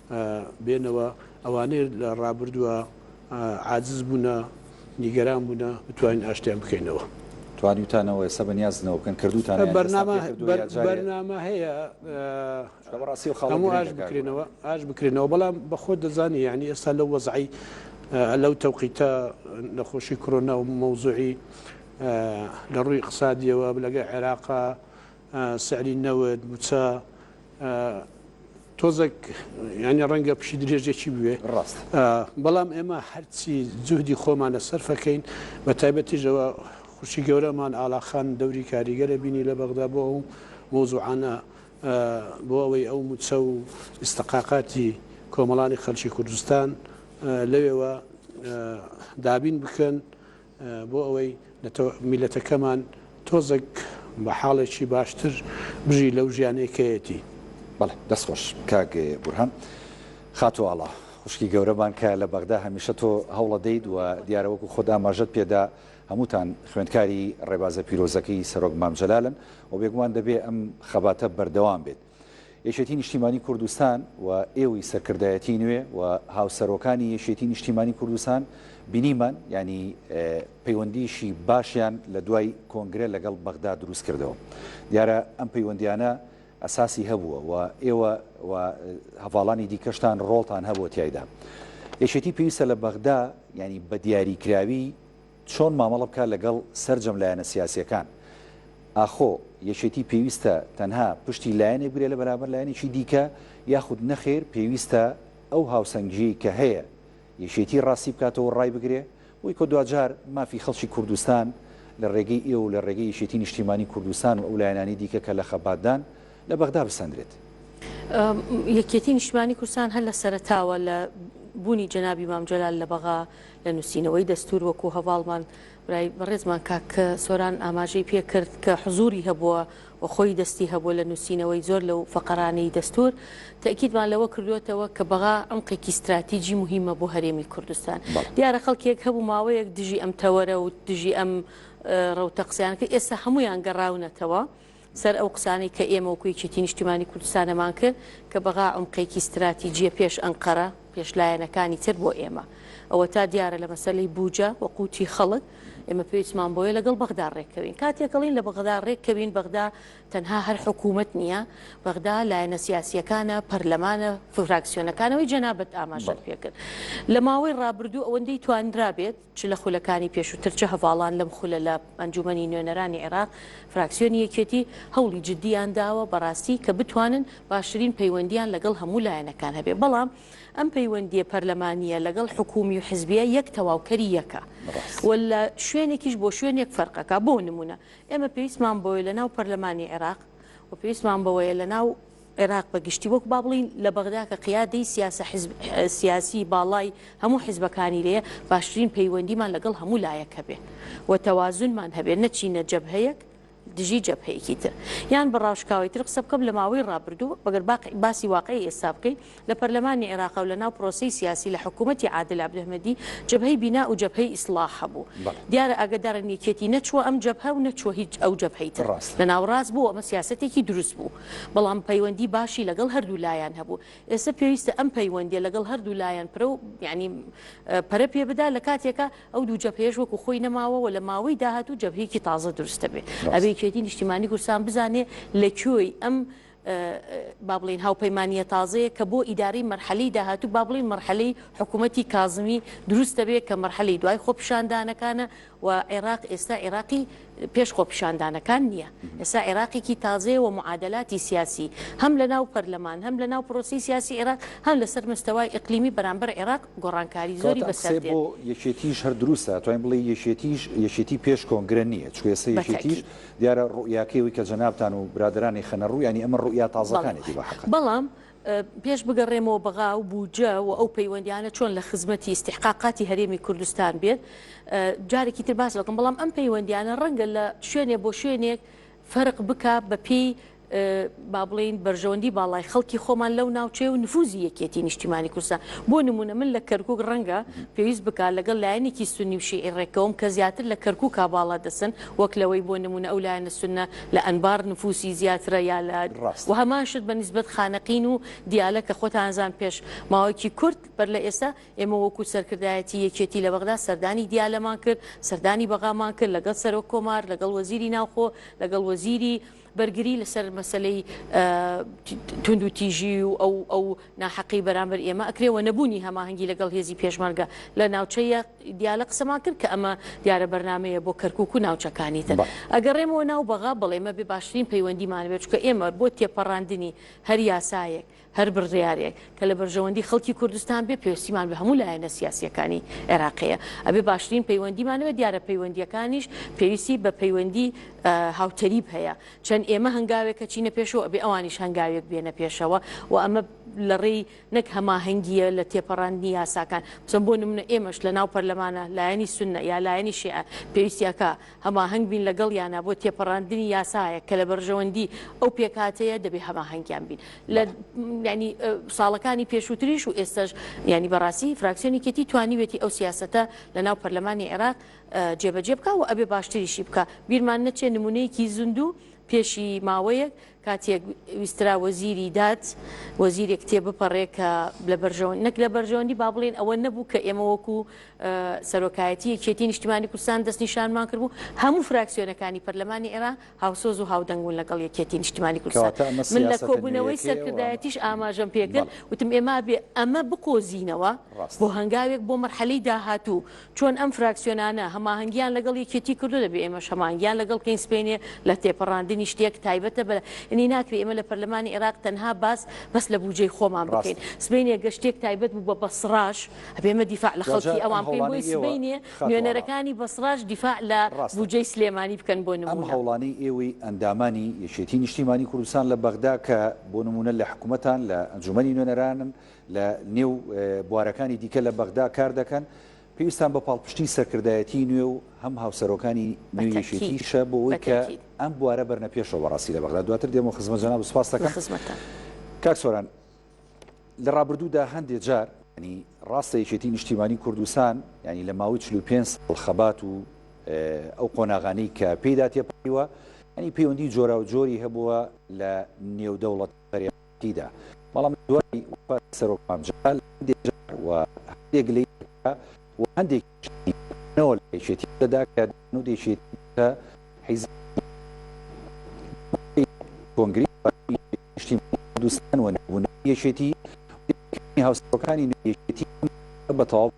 بێنەوە ئەوانەی لە ڕابردووە عاجز بوونە نیگەران بوونە بتوانین ئاشتیان بکەینەوە. توانیوتانەوە ئێستا بە نیازنەوە بکەن کردوتانە یان ئێستا پێ کردوە یا جارێ؟ بەرنامە هەیە چونکە بەڕاستی خەڵک گرنگە ئاش بکرێنەوە ئاش بکرێنەوە بەڵام بەخۆت دەزانی یانی ئێستا لەو وەزعی لەو تەوقیتە نەخۆشی کڕۆنا و مەوزوعی لە ڕووی ئیقسادیەوە لەگە عێراقا سعری نەوت، موچە، تۆزەک یانی ڕەنگە پشی درێژێکی بوێ. ڕاست. بەڵام ئێمە هەرچی جوهدی خۆمانە سەرفەکەین بە تایبەتیش ئەوە خوشکی گەورەمان ئاڵا خان دەوری کاریگەرە بینی لە بەغدا بۆ ئەو مەوزوعانە بۆ ئەوەی ئەو موچە و ئیستقاقاتی کۆمەڵانی خەلکی کوردستان لەوێوە دابین بکەن بۆ ئەوەی نەتەوە میللەتەکەمان تۆزەک بە حاڵێکی باشتر بژی لەو ژیانەی کەیەتی. بەڵێ دەست خۆش کاک بورهان. خاتو ئاڵا خوشکی گەورەمان کە لە بەغدا هەمیشە تۆ هەوڵەدەیت و دیارە وەکو خۆت ئاماژەت پێدا هەمووتان خوێندکاری ڕێبازە پیرۆزەکەی سەرۆک مام جەلالن و بێگومان دەبێ ئەم خەباتە بەردەوام بێت. یەکێتی نیشتیمانی کوردستان و ئێوی سەرکردایەتی نوێ و هاوسەرۆکانی یەکێتی نیشتیمانی کوردستان بینیمان یانی پەیوەندیشی باشیان لە دوای کۆنگرە لەگەڵ بەغدا دروست کردەوە دیارە ئەم پەیوەندیانە ئەساسی هەبووە و ئێوە و هەڤاڵانی دیکەشتان ڕۆڵتان هەبووە تایدا یەکێتی پێویستە لە بەغدا ینی بە دیاریکراوی چۆن مامەڵە بکات لەگەڵ سەرجەم لایەنە سیاسییەکان؟ ئاخۆ یەکێتی پێویستە تەنها پشتی لایەنێک بگرێت لە بەرامبەر لایەنێکی دیکە یاخود نەخێر پێویستە ئەو هاوسەنگییەی کە هەیە یەکێتی ڕاستی بکاتەوە و ڕایبگرێ؟ بۆی کە دواجار مافی خەڵکی کوردستان لە ڕێگەی ئێوە و لە ڕێگەی یەکێتی نیشتیمانی کوردستان و ئەو لایەنانەی دیکە کە لە خەباتدان لە بەغدا بسەندرێت. یەکێتی نیشتمانی کوردستان هەر لە سەرەتاوە لە بوونی جەنابی مام جەلال لە بەغا لە نووسینەوەی دەستوور وەکوو هەڤاڵمان برای بەڕێزمان کاک سۆران ئاماژەی پێ کرد کە حزووری هەبووە و خۆی دەستی هەبووە لە نووسینەوەی زۆر لەو فەقەرانەی دەستوور تەئکیدمان لەوە کردووەتەوە کە بەغا عەمقێکی ستراتیجی موهیمە بۆ هەرێمی کوردستان دیارە خەڵکێک هەبوو ماوەیەک دژی ئەم تەوەرە و دژی ئەم ڕەوتە قسەیان کرد ئێستا هەموویان گەڕاونەتەوە سەر ئەو قسانەی کە ئێمە وەکو یەکێتی نیشتیمانی کوردستان ئەمان کرد کە بەغا عومقێکی ستراتیجیە پێش ئەنقەرە پێش لایەنەکانی تر بۆ ئێمە ئەوەتا دیارە لە مەسەلەی بوجە و قوتی خەڵک ئێمە پێویستمان بۆیە لەگەڵ بەغدا ڕێککەوین کاتێک ئەڵین لە بەغدا ڕێککەوین بەغدا تەنها هەر حکوومەت نییە بەغدا لایەنە سیاسیەکانە پەرلەمانە فراکسیۆنەکانەوەی جەنابەت ئاماژەت پێکرد لە ماوەی ڕابردوو ئەوەندەی توانرابێت چ لە خولەکانی پێشووتر چ هەڤاڵان لەم خولە لە ئەنجوومەنی نوێنەرانی عێراق، فراکسیۆنی یەکێتی، هەوڵی جددییان داوە بەڕاستی کە بتوانن باشترین پەیوەندییان لەگەڵ هەموو لایەنەکان هەبێ، بەڵام ئەم پەیوەندییە پەرلەمانییە لەگەڵ حکوومی و حزبییە یەک تەواوکەری یەکە و لە شوێنێکیش بۆ شوێنێک فەرقەکا. بۆ نموونە ئێمە پێویستمان بەوەیە لەناو پەرلەمانی عێراق و پێویستمان بەوەیە لەناو. عێراق بە گشتی وەکو با بڵێین لە بەغدا کە قیادەی سیاسە حزب سیاسی باڵای هەموو حزبەکانی لێیە باشترین پەیوەندیمان لەگەڵ هەموو لایەک هەبێ و تەوازونمان هەبێ نەچینە جەبهەیەک دژی جەبهەیەکی تر یان بە ڕاشکاوی تر قسە بکەم لە ماوەی ڕابردوو بەگەر باسی واقعی ئێستا بکەین لە پەرلەمانی عێراق و لە ناو پرۆسەی سیاسی لە حکوومەتی عادل عەبدولهمەدی جەبهەی بینا و جەبهەی ئیسڵاح هەبوو. دیارە ئاگەدارن یەکێتی نەچووە ئەم جەبهە و نەچووە هیچ ئەو جەبهەی تر. لە ناوەڕاست بوو و ئەمە سیاسەتێکی دروست بوو. بەڵام پەیوەندی باشی لەگەڵ هەردوو لایان هەبوو. ئێستا پێویستە ئەم پەیوەندییە لەگەڵ هەردوو لایان پرە و یانی پەرە پێ بدا لە کاتێکا ئەو دوو جەبهەیەش وەکوو خۆی نەماوە و لە ماوەی داهاتوو جەبهەیەکی تازە دروست دەبێ. ئەبێ یەکێتی نیشتیمانی کوردستان بزانێ لە کوێی ئەم با بڵێین هاوپەیمانییە تازەیەک کە بۆ ئیدارەی مەرحەلەی داهاتوو با بڵێین مەرحەلەی حکوومەتی کازمی دروست دەبێت کە مەرحەلەی دوای خۆپیشاندانەکانە و عێراق ئێستا عێراقی پێش خۆپیشاندانەکان نییە ئێستا عێراقێکی تازەیە و معادلاتی سیاسی هەم لە ناو پەرلەمان هەم لە ناو پرۆسی سیاسی عێراق هەم لەسەر مستەوای ئەقلیمی بەرامبەر عێراق گۆڕانکاری زۆری بەسەر بۆ یەکێتیش هەر دروستە توانین بڵێ یەکێتیش یەکێتی پێش کۆنگرە نییە چێسە یەکێتیش دیارە ڕوئیاکەی ئەوی کە جەنابتان و برادەرانی خەنە ڕوو یانی ئەمە ڕوئیا تازەکانێتی بە حەقە. بەڵام پێش بگەڕێمەوە بەغا و بودجە و ئەو پەیوەندیانە چۆن لە خزمەتی ئیستیحقاقاتی هەرێمی کوردستان بێت جارێکی تر باس دەکەم بەڵام ئەم پەیوەندیانە ڕەنگە لە شوێنێ بۆ شوێنێک فەرق بکا بە پێی با بڵێین بەرژەوەندی باڵای خەڵکی خۆمان لەو ناوچەیە و نفوزی یەکێتی نیشتیمانی کوردستان بۆ نمونە من لە کەرکک ڕەنگە پێویست بکات لەگەڵ لایەنێکی سنی و شیعی ڕێکەوم کە زیاتر لە کەرکک باڵا دەسن وەک لەوەی بۆ نمونە ئەو لایەنە سنە لە ئەنبار نفوسی زیاترە یا لە و هەمان شت بە نیسبەت خانەقین و دیالە کە خۆتانزان پێش ماوەیەکی کورت بەر لە ئێستا ئێمە وەکو سەرکردایەتی یەکێتی لە بەغدا سەردانی دیالەمان کرد سەردانی بەغامان کرد لەگەڵ سەرۆک کۆمار لەگەڵ وەزیری ناوخۆ لەگەڵ وەزیری بەرگری لەسەر مەسەلەی توندوتیژی و ئەو ئەو ناحەقی بەرامبەر ئێمە ئەکرێ و نەبوونی هەماهەنگی لەگەڵ هێزی پێشمەرگە لە ناوچەیە دیالە قسەمان کرد کە ئەمە دیارە بەرنمەیە بۆ کەرکک و ناوچەکانی تر ئەگەڕێمەوە ناو بەغا بڵێمە بێ باشترین پەیوەندیمان بێت چکە ئێمە بۆ تێپەڕاندنی هەر یاسایەک هەر بڕیارێک کە لە بەرژەوەندی خەڵکی کوردستان بێ پێوستیمان بە هەموو لایەنە سیاسییەکانی عێراق هەیە ئەبێ باشترین پەیوەندیمان هەبێ دیارە پەیوەندییەکانیش پێویستی بە پەیوەندی هاوتەریب هەیە چەند ئێمە هەنگاوێکە چینە پێشەوە ئەبێ ئەوانیش هەنگاوێک بێنە پێشەوە و ئەمە لە ڕێی نەک هەماهەنگیە لە تێپەڕاندنی یاساکان بچەم بۆ نمونە ئێمەش لە ناو پەرلەمانە لایەنی سنە یا لایەنی شێعە پێویستیەکە هەماهەنگ بین لەگەڵیانا بۆ تێپەڕاندنی یاسایەک کە لە بەرژەوەندی ئەو پێکهاتەیە دەبێ هەماهەنگیان بین لە بەڵێ. یانی ساڵەکانی پێشووتریش و ئێستەش یانی بەڕاستی فراکسیۆنی یەکێتی توانیوێتی ئەو سیاسەتە لە ناو پەرلەمانی عێراق جێبەجێ بکا و ئەبێ باشتریشی بکا بیرمان نەچێ نموونەیەکی زیندوو پێشی ماوەیەک کاتێک ویسترا وەزیری داد وەزیرێک تێبپەڕێ کە لە بەرژەوەند نەک لە بەرژەوەندی با بڵێن ئەوە نەبوو کە ئێمە وەکو سەرۆکایەتی یەکێتی نیشتمانی کوردستان دەستنیشانمان کردبوو هەموو فراکسیۆنەکانی پەرلەمانی عێراق هاوسۆز و هاودەنگ بوون لەگەڵ یەکێتی نیشتمانی کوردستان من لە کۆبوونەوەی سەرکردایەتیش ئاماژەم پێ کرد وتم ئێمە ئەبێ ئەمە بقۆزینەوە بۆ هەنگاوێک بۆ مەرحەلەی داهاتوو چۆن ئەم فراکسیۆنانە هەماهەنگیان لەگەڵ یەکێتی کردوە دەبێ ئێمەش هەماهەنگیان لەگەڵ بکەین سبەینێ لە تێپەڕاندنی شتێک تایبەتە بە ینی ناکرێ ئێمە لە پەرلەمانی عێراق تەنها باس بەس لە بوجەی خۆمان بکەین ڕاستە. سبەینێ گەر شتێک تایبەت بوو بە بەسڕاش ئەبێ ئێمە دیفاع لە جا خەڵکی ئەم ئەوان بکەین بۆی هەوڵانەی ئێوە سبەینێ خاتوو ئاڵا. نوێنەرەکانی بەسڕاش دیفاع لە ڕاستە. بوجەی سلێمانی بکەن بۆ ئەم نمونە. هەوڵانەی ئێوەی ئەندامانی یەکێتی نیشتیمانی کوردستان لە بەغدا کە بۆ نمونە لە حکومەتان لە ئەنجومەنی نوێنەرانن لە نێو بوارەکانی دیکە لە بەغدا کار دەکەن، پێویستان بە پاڵپشتیی سەرکردایەتیی نوێ و هەم هاوسەرۆکانی نوێی یەکێتیشە بۆ ئەوەی کە ئەم بوارە بەرنە پێشەوە بەڕاستی لە بەغدا. دواتر دێمەوە خزمەت جەنابت سپاست دەکەم. کاک سۆران، لە ڕابردوودا هەندێ جار، یانی ڕاستە یەکێتیی نیشتیمانیی کوردستان یانی لە ماوەی چل و پێنج ساڵ خەبات و ئەو قۆناغانەی کە پێیدا تێپەڕیوە، یانی پەیوەندیی جۆراوجۆری هەبووە لە نێودەوڵەت، بەرێوەبەرایەتیدا، بەڵام لە دوای وەفاتی سەرۆک مام جەلال هەندێ جار و هەندێک لەی دەکرا و هەندێکیش لەی نەوە لە یەکێتی دەدا کە دەیانوت یەکێتی بووتە حیزبی دووەمی کۆنگرەی دوازدەمی یەکێتی نیشتیمانی کوردستان و نەبوونەوەی یەکێتی و دەرکردنی هاوسەرۆکانی نوێی یەکێتی ئەم کارە بە تەواوی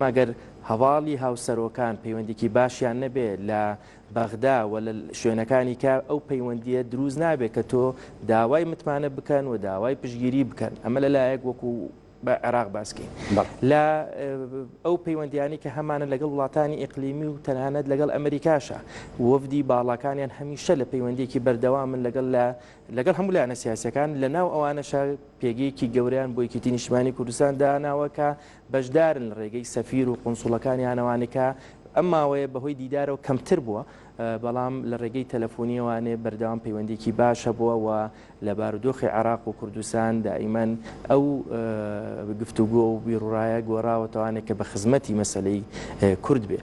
ئەگەر هەواڵی هاوسەرۆکان پەیوەندیکی باشیان نەبێ لە بەغدا و لە شوێنەکانی کە ئەو پەیوەندیە دروست نابێت کە تۆ داوای متمانە بکەن و داوای پشگیری بکەن ئەمە لە لایەک وەکو بە عێراق باسکەین لە ئەو پەیوەندیانی کە هەمانە لەگەڵ وڵاتانی ئیقلیمی و تەنانەت لەگەڵ ئەمریکاشە وەفدی باڵاکانیان هەمیشە لە پەیوەندێکی بەردەوامن لەگەڵ لە لەگەڵ هەموو لایەنە سیاسییەکان، لە ناو ئەوانەشە پێگەیەکی گەورەیان بۆ یەکێتی نیشتمانی کوردستان داناوە کە بەشدارن لە رێگەی سەفیر و قونسوڵەکانیان ئەوانەی کە ئەم ماوەیە بەهۆی دیدارەوە کەمتر بووە بەڵام لە رێگەی تەلەفونییەوانێ بەردەوام پەیوەندییەکی باش هەبووە و لە بارودۆخی عێراق و کوردستان دائیمەن ئەو گفتوگۆ و بیروڕایە گۆراوەتەوانێ کە بە خزمەتی مەسەلەی کورد بێ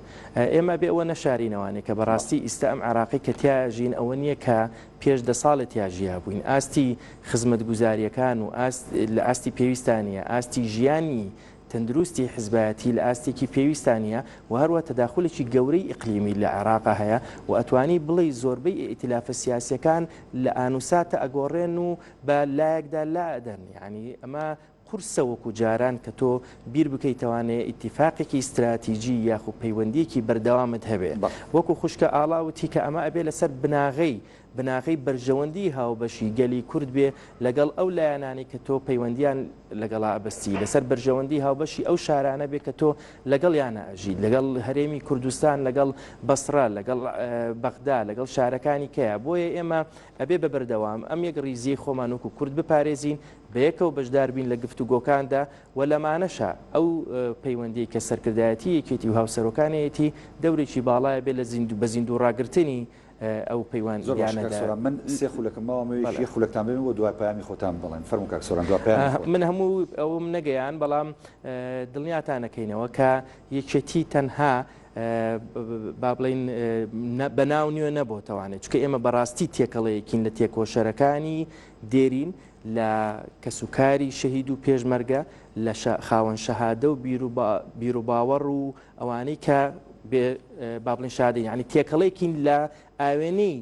ئێمە بێ ئەوە نەشارینەوانێ کە بەڕاستی ئیستا ئەم عێراقی کە تیا ژین ئەوە نییە کە پێش دە ساڵێ تیا ژیابووین، ئاستی خزمەتگوزارییەکان و ئاست لە ئاستی پێویستا نییە، ئاستی ژیانی تەندروستی حزبایەتی لە ئاستێکی پێویستا نییە و هەروە تەداخولێکی گەورەی ئیقلیمی لە عێراقا هەیە و ئەتوانی بڵێی زۆربەی ئیئتیلافە سیاسییەکان لە ئانوساتە ئەگۆڕێن و بە لایەکدا لائەدەن یانی ئەمە قورسە وەکو جاران کە تۆ بیر بکەی توانێ ئیتیفاقێکی ستراتیجی یاخو پەیوەندیەکی بەردەوامت هەبێ وەکو خوشکە ئاڵا وتی کە ئەمە ئەبێ لەسەر بناغەی بناغەی بەرژەوەندی هاوبەشی گەلی کورد بێ لەگەڵ ئەو لایەنانەی کە تۆ پەیوەندیان لەگەڵا ئەبەستی لەسەر بەرژەوەندی هاوبەشی ئەو شارانە بێ کە تۆ لەگەڵ یانە ئەژیت لەگەڵ هەرێمی کوردستان لەگەڵ بەسڕە لەگەڵ بەغدا لەگەڵ شارەکانی کەیە بۆیە ئێمە ئەبێ بە بەردەوام ئەم یەکڕیزیەی خۆمان وەکو کورد بپارێزین، بەیەکەوە بەشدار بین لە گفتوگۆکاندا و لەمانەشە ئەو پەیوەندیەی کە سەرکردایەتی یەکێتی و هاوسەرۆکانێیەتی دەورێکی باڵایە بێ لە زیندو بە زیندو ڕاگرتنی ئەو پەیوان زۆر باش کاک سۆران من سێ خولەکم ماوە مەوێ یەک خولەکتان بێنم و دوای پەیامی خۆتان بڵێن فەرموو کاک سۆران دوای پەیامی خۆت. من هەموو ئەوەم نەگەیاند بەڵام دڵنیاتان ئەکەینەوە کە یەکێتی تەنها با بڵێین بە ناو نوێ نەبۆتەوانێ چکە ئێمە بەڕاستی تێکەڵەیەکین لە تێکۆشەرەکانی دێرین لە کەسوکاری شەهید و پێشمەرگە لە خاوەن شەهادە و بیرروباوەڕ و ئەوانەی کە بابلین شادە یعنی تێکەڵێکین لە ئاوێنەی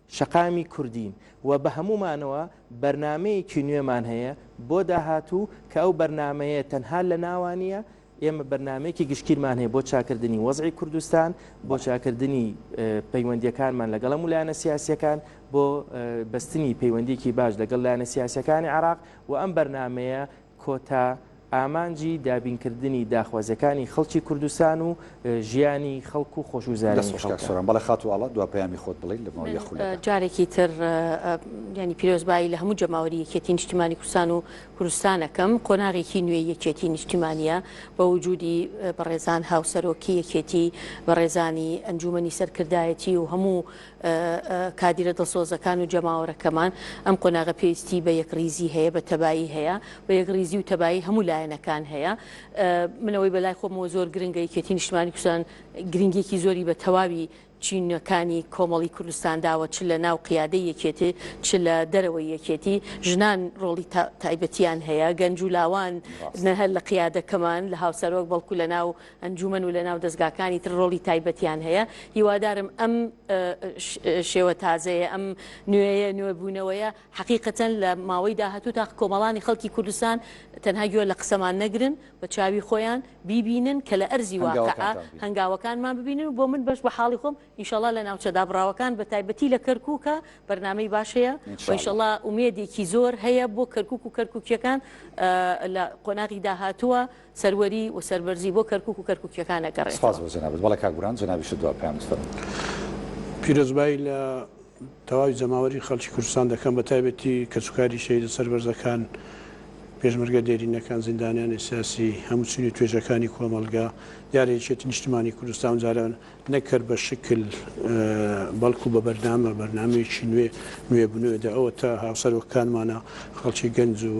شەقامی کوردین و بە هەموومانەوە بەرنامەیەکی نوێمان هەیە بۆ داهاتوو کە ئەو بەرنامەیە تەنها لە ناوە نییە، ئێمە بەرنامەیەکی گشتگیرمان هەیە بۆ چاکردنی وەزعی کوردستان، بۆ چاکردنی پەیوەندییەکانمان لەگەڵ هەموو لایەنە سیاسییەکان، بۆ بەستنی پەیوەندییەکی باش لەگەڵ لایەنە سیاسییەکانی عێراق و ئەم بەرنامەیە کۆتا ئامانجی دابینکردنی داخوازیەکانی خەڵکی کوردستان و ژیانی خەڵک و خۆشگوزەرانی خەڵکە. دەست خۆش کاک سۆران بەڵێ خاتوو ئاڵا دوا پەیامی خۆت بڵێ لە ماوەی یەک خولەکە. جارێکی تر یانی پیرۆزبایی لە هەموو جەماوەری یەکێتی نیشتیمانی کوردستان و کوردستان ئەکەم، قۆناغێکی نوێی یەکێتی نیشتیمانیە بە وجودی بەڕێزان هاوسەرۆکی یەکێتی، بەڕێزانی ئەنجومەنی سەرکردایەتی و هەموو کادیرە دڵسۆزەکان و جەماوەرەکەمان، ئەم قۆناغە پێویستی بە یەکڕیزی هەیە، بە تەبایی هەیە، بە یەکڕیزی و تەبایی هەموو لایەنەکان هەیە. من ئەوەی بە لای خۆمەوە زۆر گرنگە، یەکێتی نیشتمانی کوردستان گرنگیەکی زۆری بە تەواوی چینەکانی کۆمەڵی کوردستان داوە، چ لە ناو قیادەی یەکێتی، چ لە دەرەوەی یەکێتی. ژنان ڕۆڵی تایبەتیان هەیە، گەنج و لاوان نەهەر لە قیادەکەمان، لە هاوسەرۆک، بەڵکو لە ناو ئەنجومەن و لەناو دەزگاکانی تر ڕۆڵی تایبەتیان هەیە، هیوادارم ئەم شێوە تازەیە، ئەم نوێیە، نوێبوونەوەیە حەقیقەتەن لە ماوەی داهاتوو تا کۆمەڵانی خەڵکی کوردستان تەنها گوێ لە قسەمان نەگرن، بە چاوی خۆیان بیبینن کە لە ئەرزی واقیعا هەنگاوەکانمان ببینن و بۆ من بەش بە حاڵی خۆم ان شاء اللە لە ناوچە دابڕاوەکان بە تایبەتی لە کەرکووکا بەرنامەی باش هەیە و ان شاء اللە ئومێدێکی زۆر هەیە بۆ کەرکووک و کەرکووکییەکان لە قۆناغی داهاتووە. سەروەری و سەربەرزی بۆ کەرکوک و کەرکوکیەکان سپاس ئەگەڕێتەوە. بۆ جەنابت بەڵێ کاک بوران جەنابیشت دوا پەیامت فەرموو. پیرۆزبایی لە تەواوی جەماوەری خەڵکی کوردستان دەکەم بە تایبەتی کەس و کاری شەهیدە سەربەرزەکان پێشمەرگە دێرینەکان زیندانیانی سیاسی هەموو چین و توێژەکانی کۆمەڵگا دیارە یەکێتی نیشتمانی کوردستان ئەم جارە نەک هەر بە شکل بەڵکو بە بەرنامە بەرنامەیەکی نوێ نوێ بنوێ دە ئەوەتا هاوسەرۆکەکانمانە خەڵکی گەنج و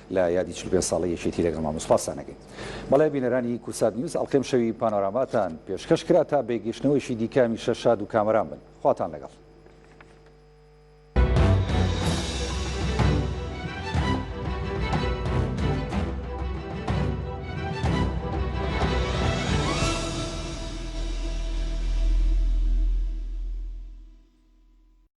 لە یادی چل و پێنج ساڵەی یەکێتی لەگەڵ مامە سوپاس سانەکەین. بەڵێ بینەرانی کورسات نیوز ئەڵقەی ئەمشەوی پانۆراماتان پێشکەش کرا تا بێ گەشتنەوەیشی دیکە هەمیشە شاد و کامەران بن. خواتان لەگەڵ.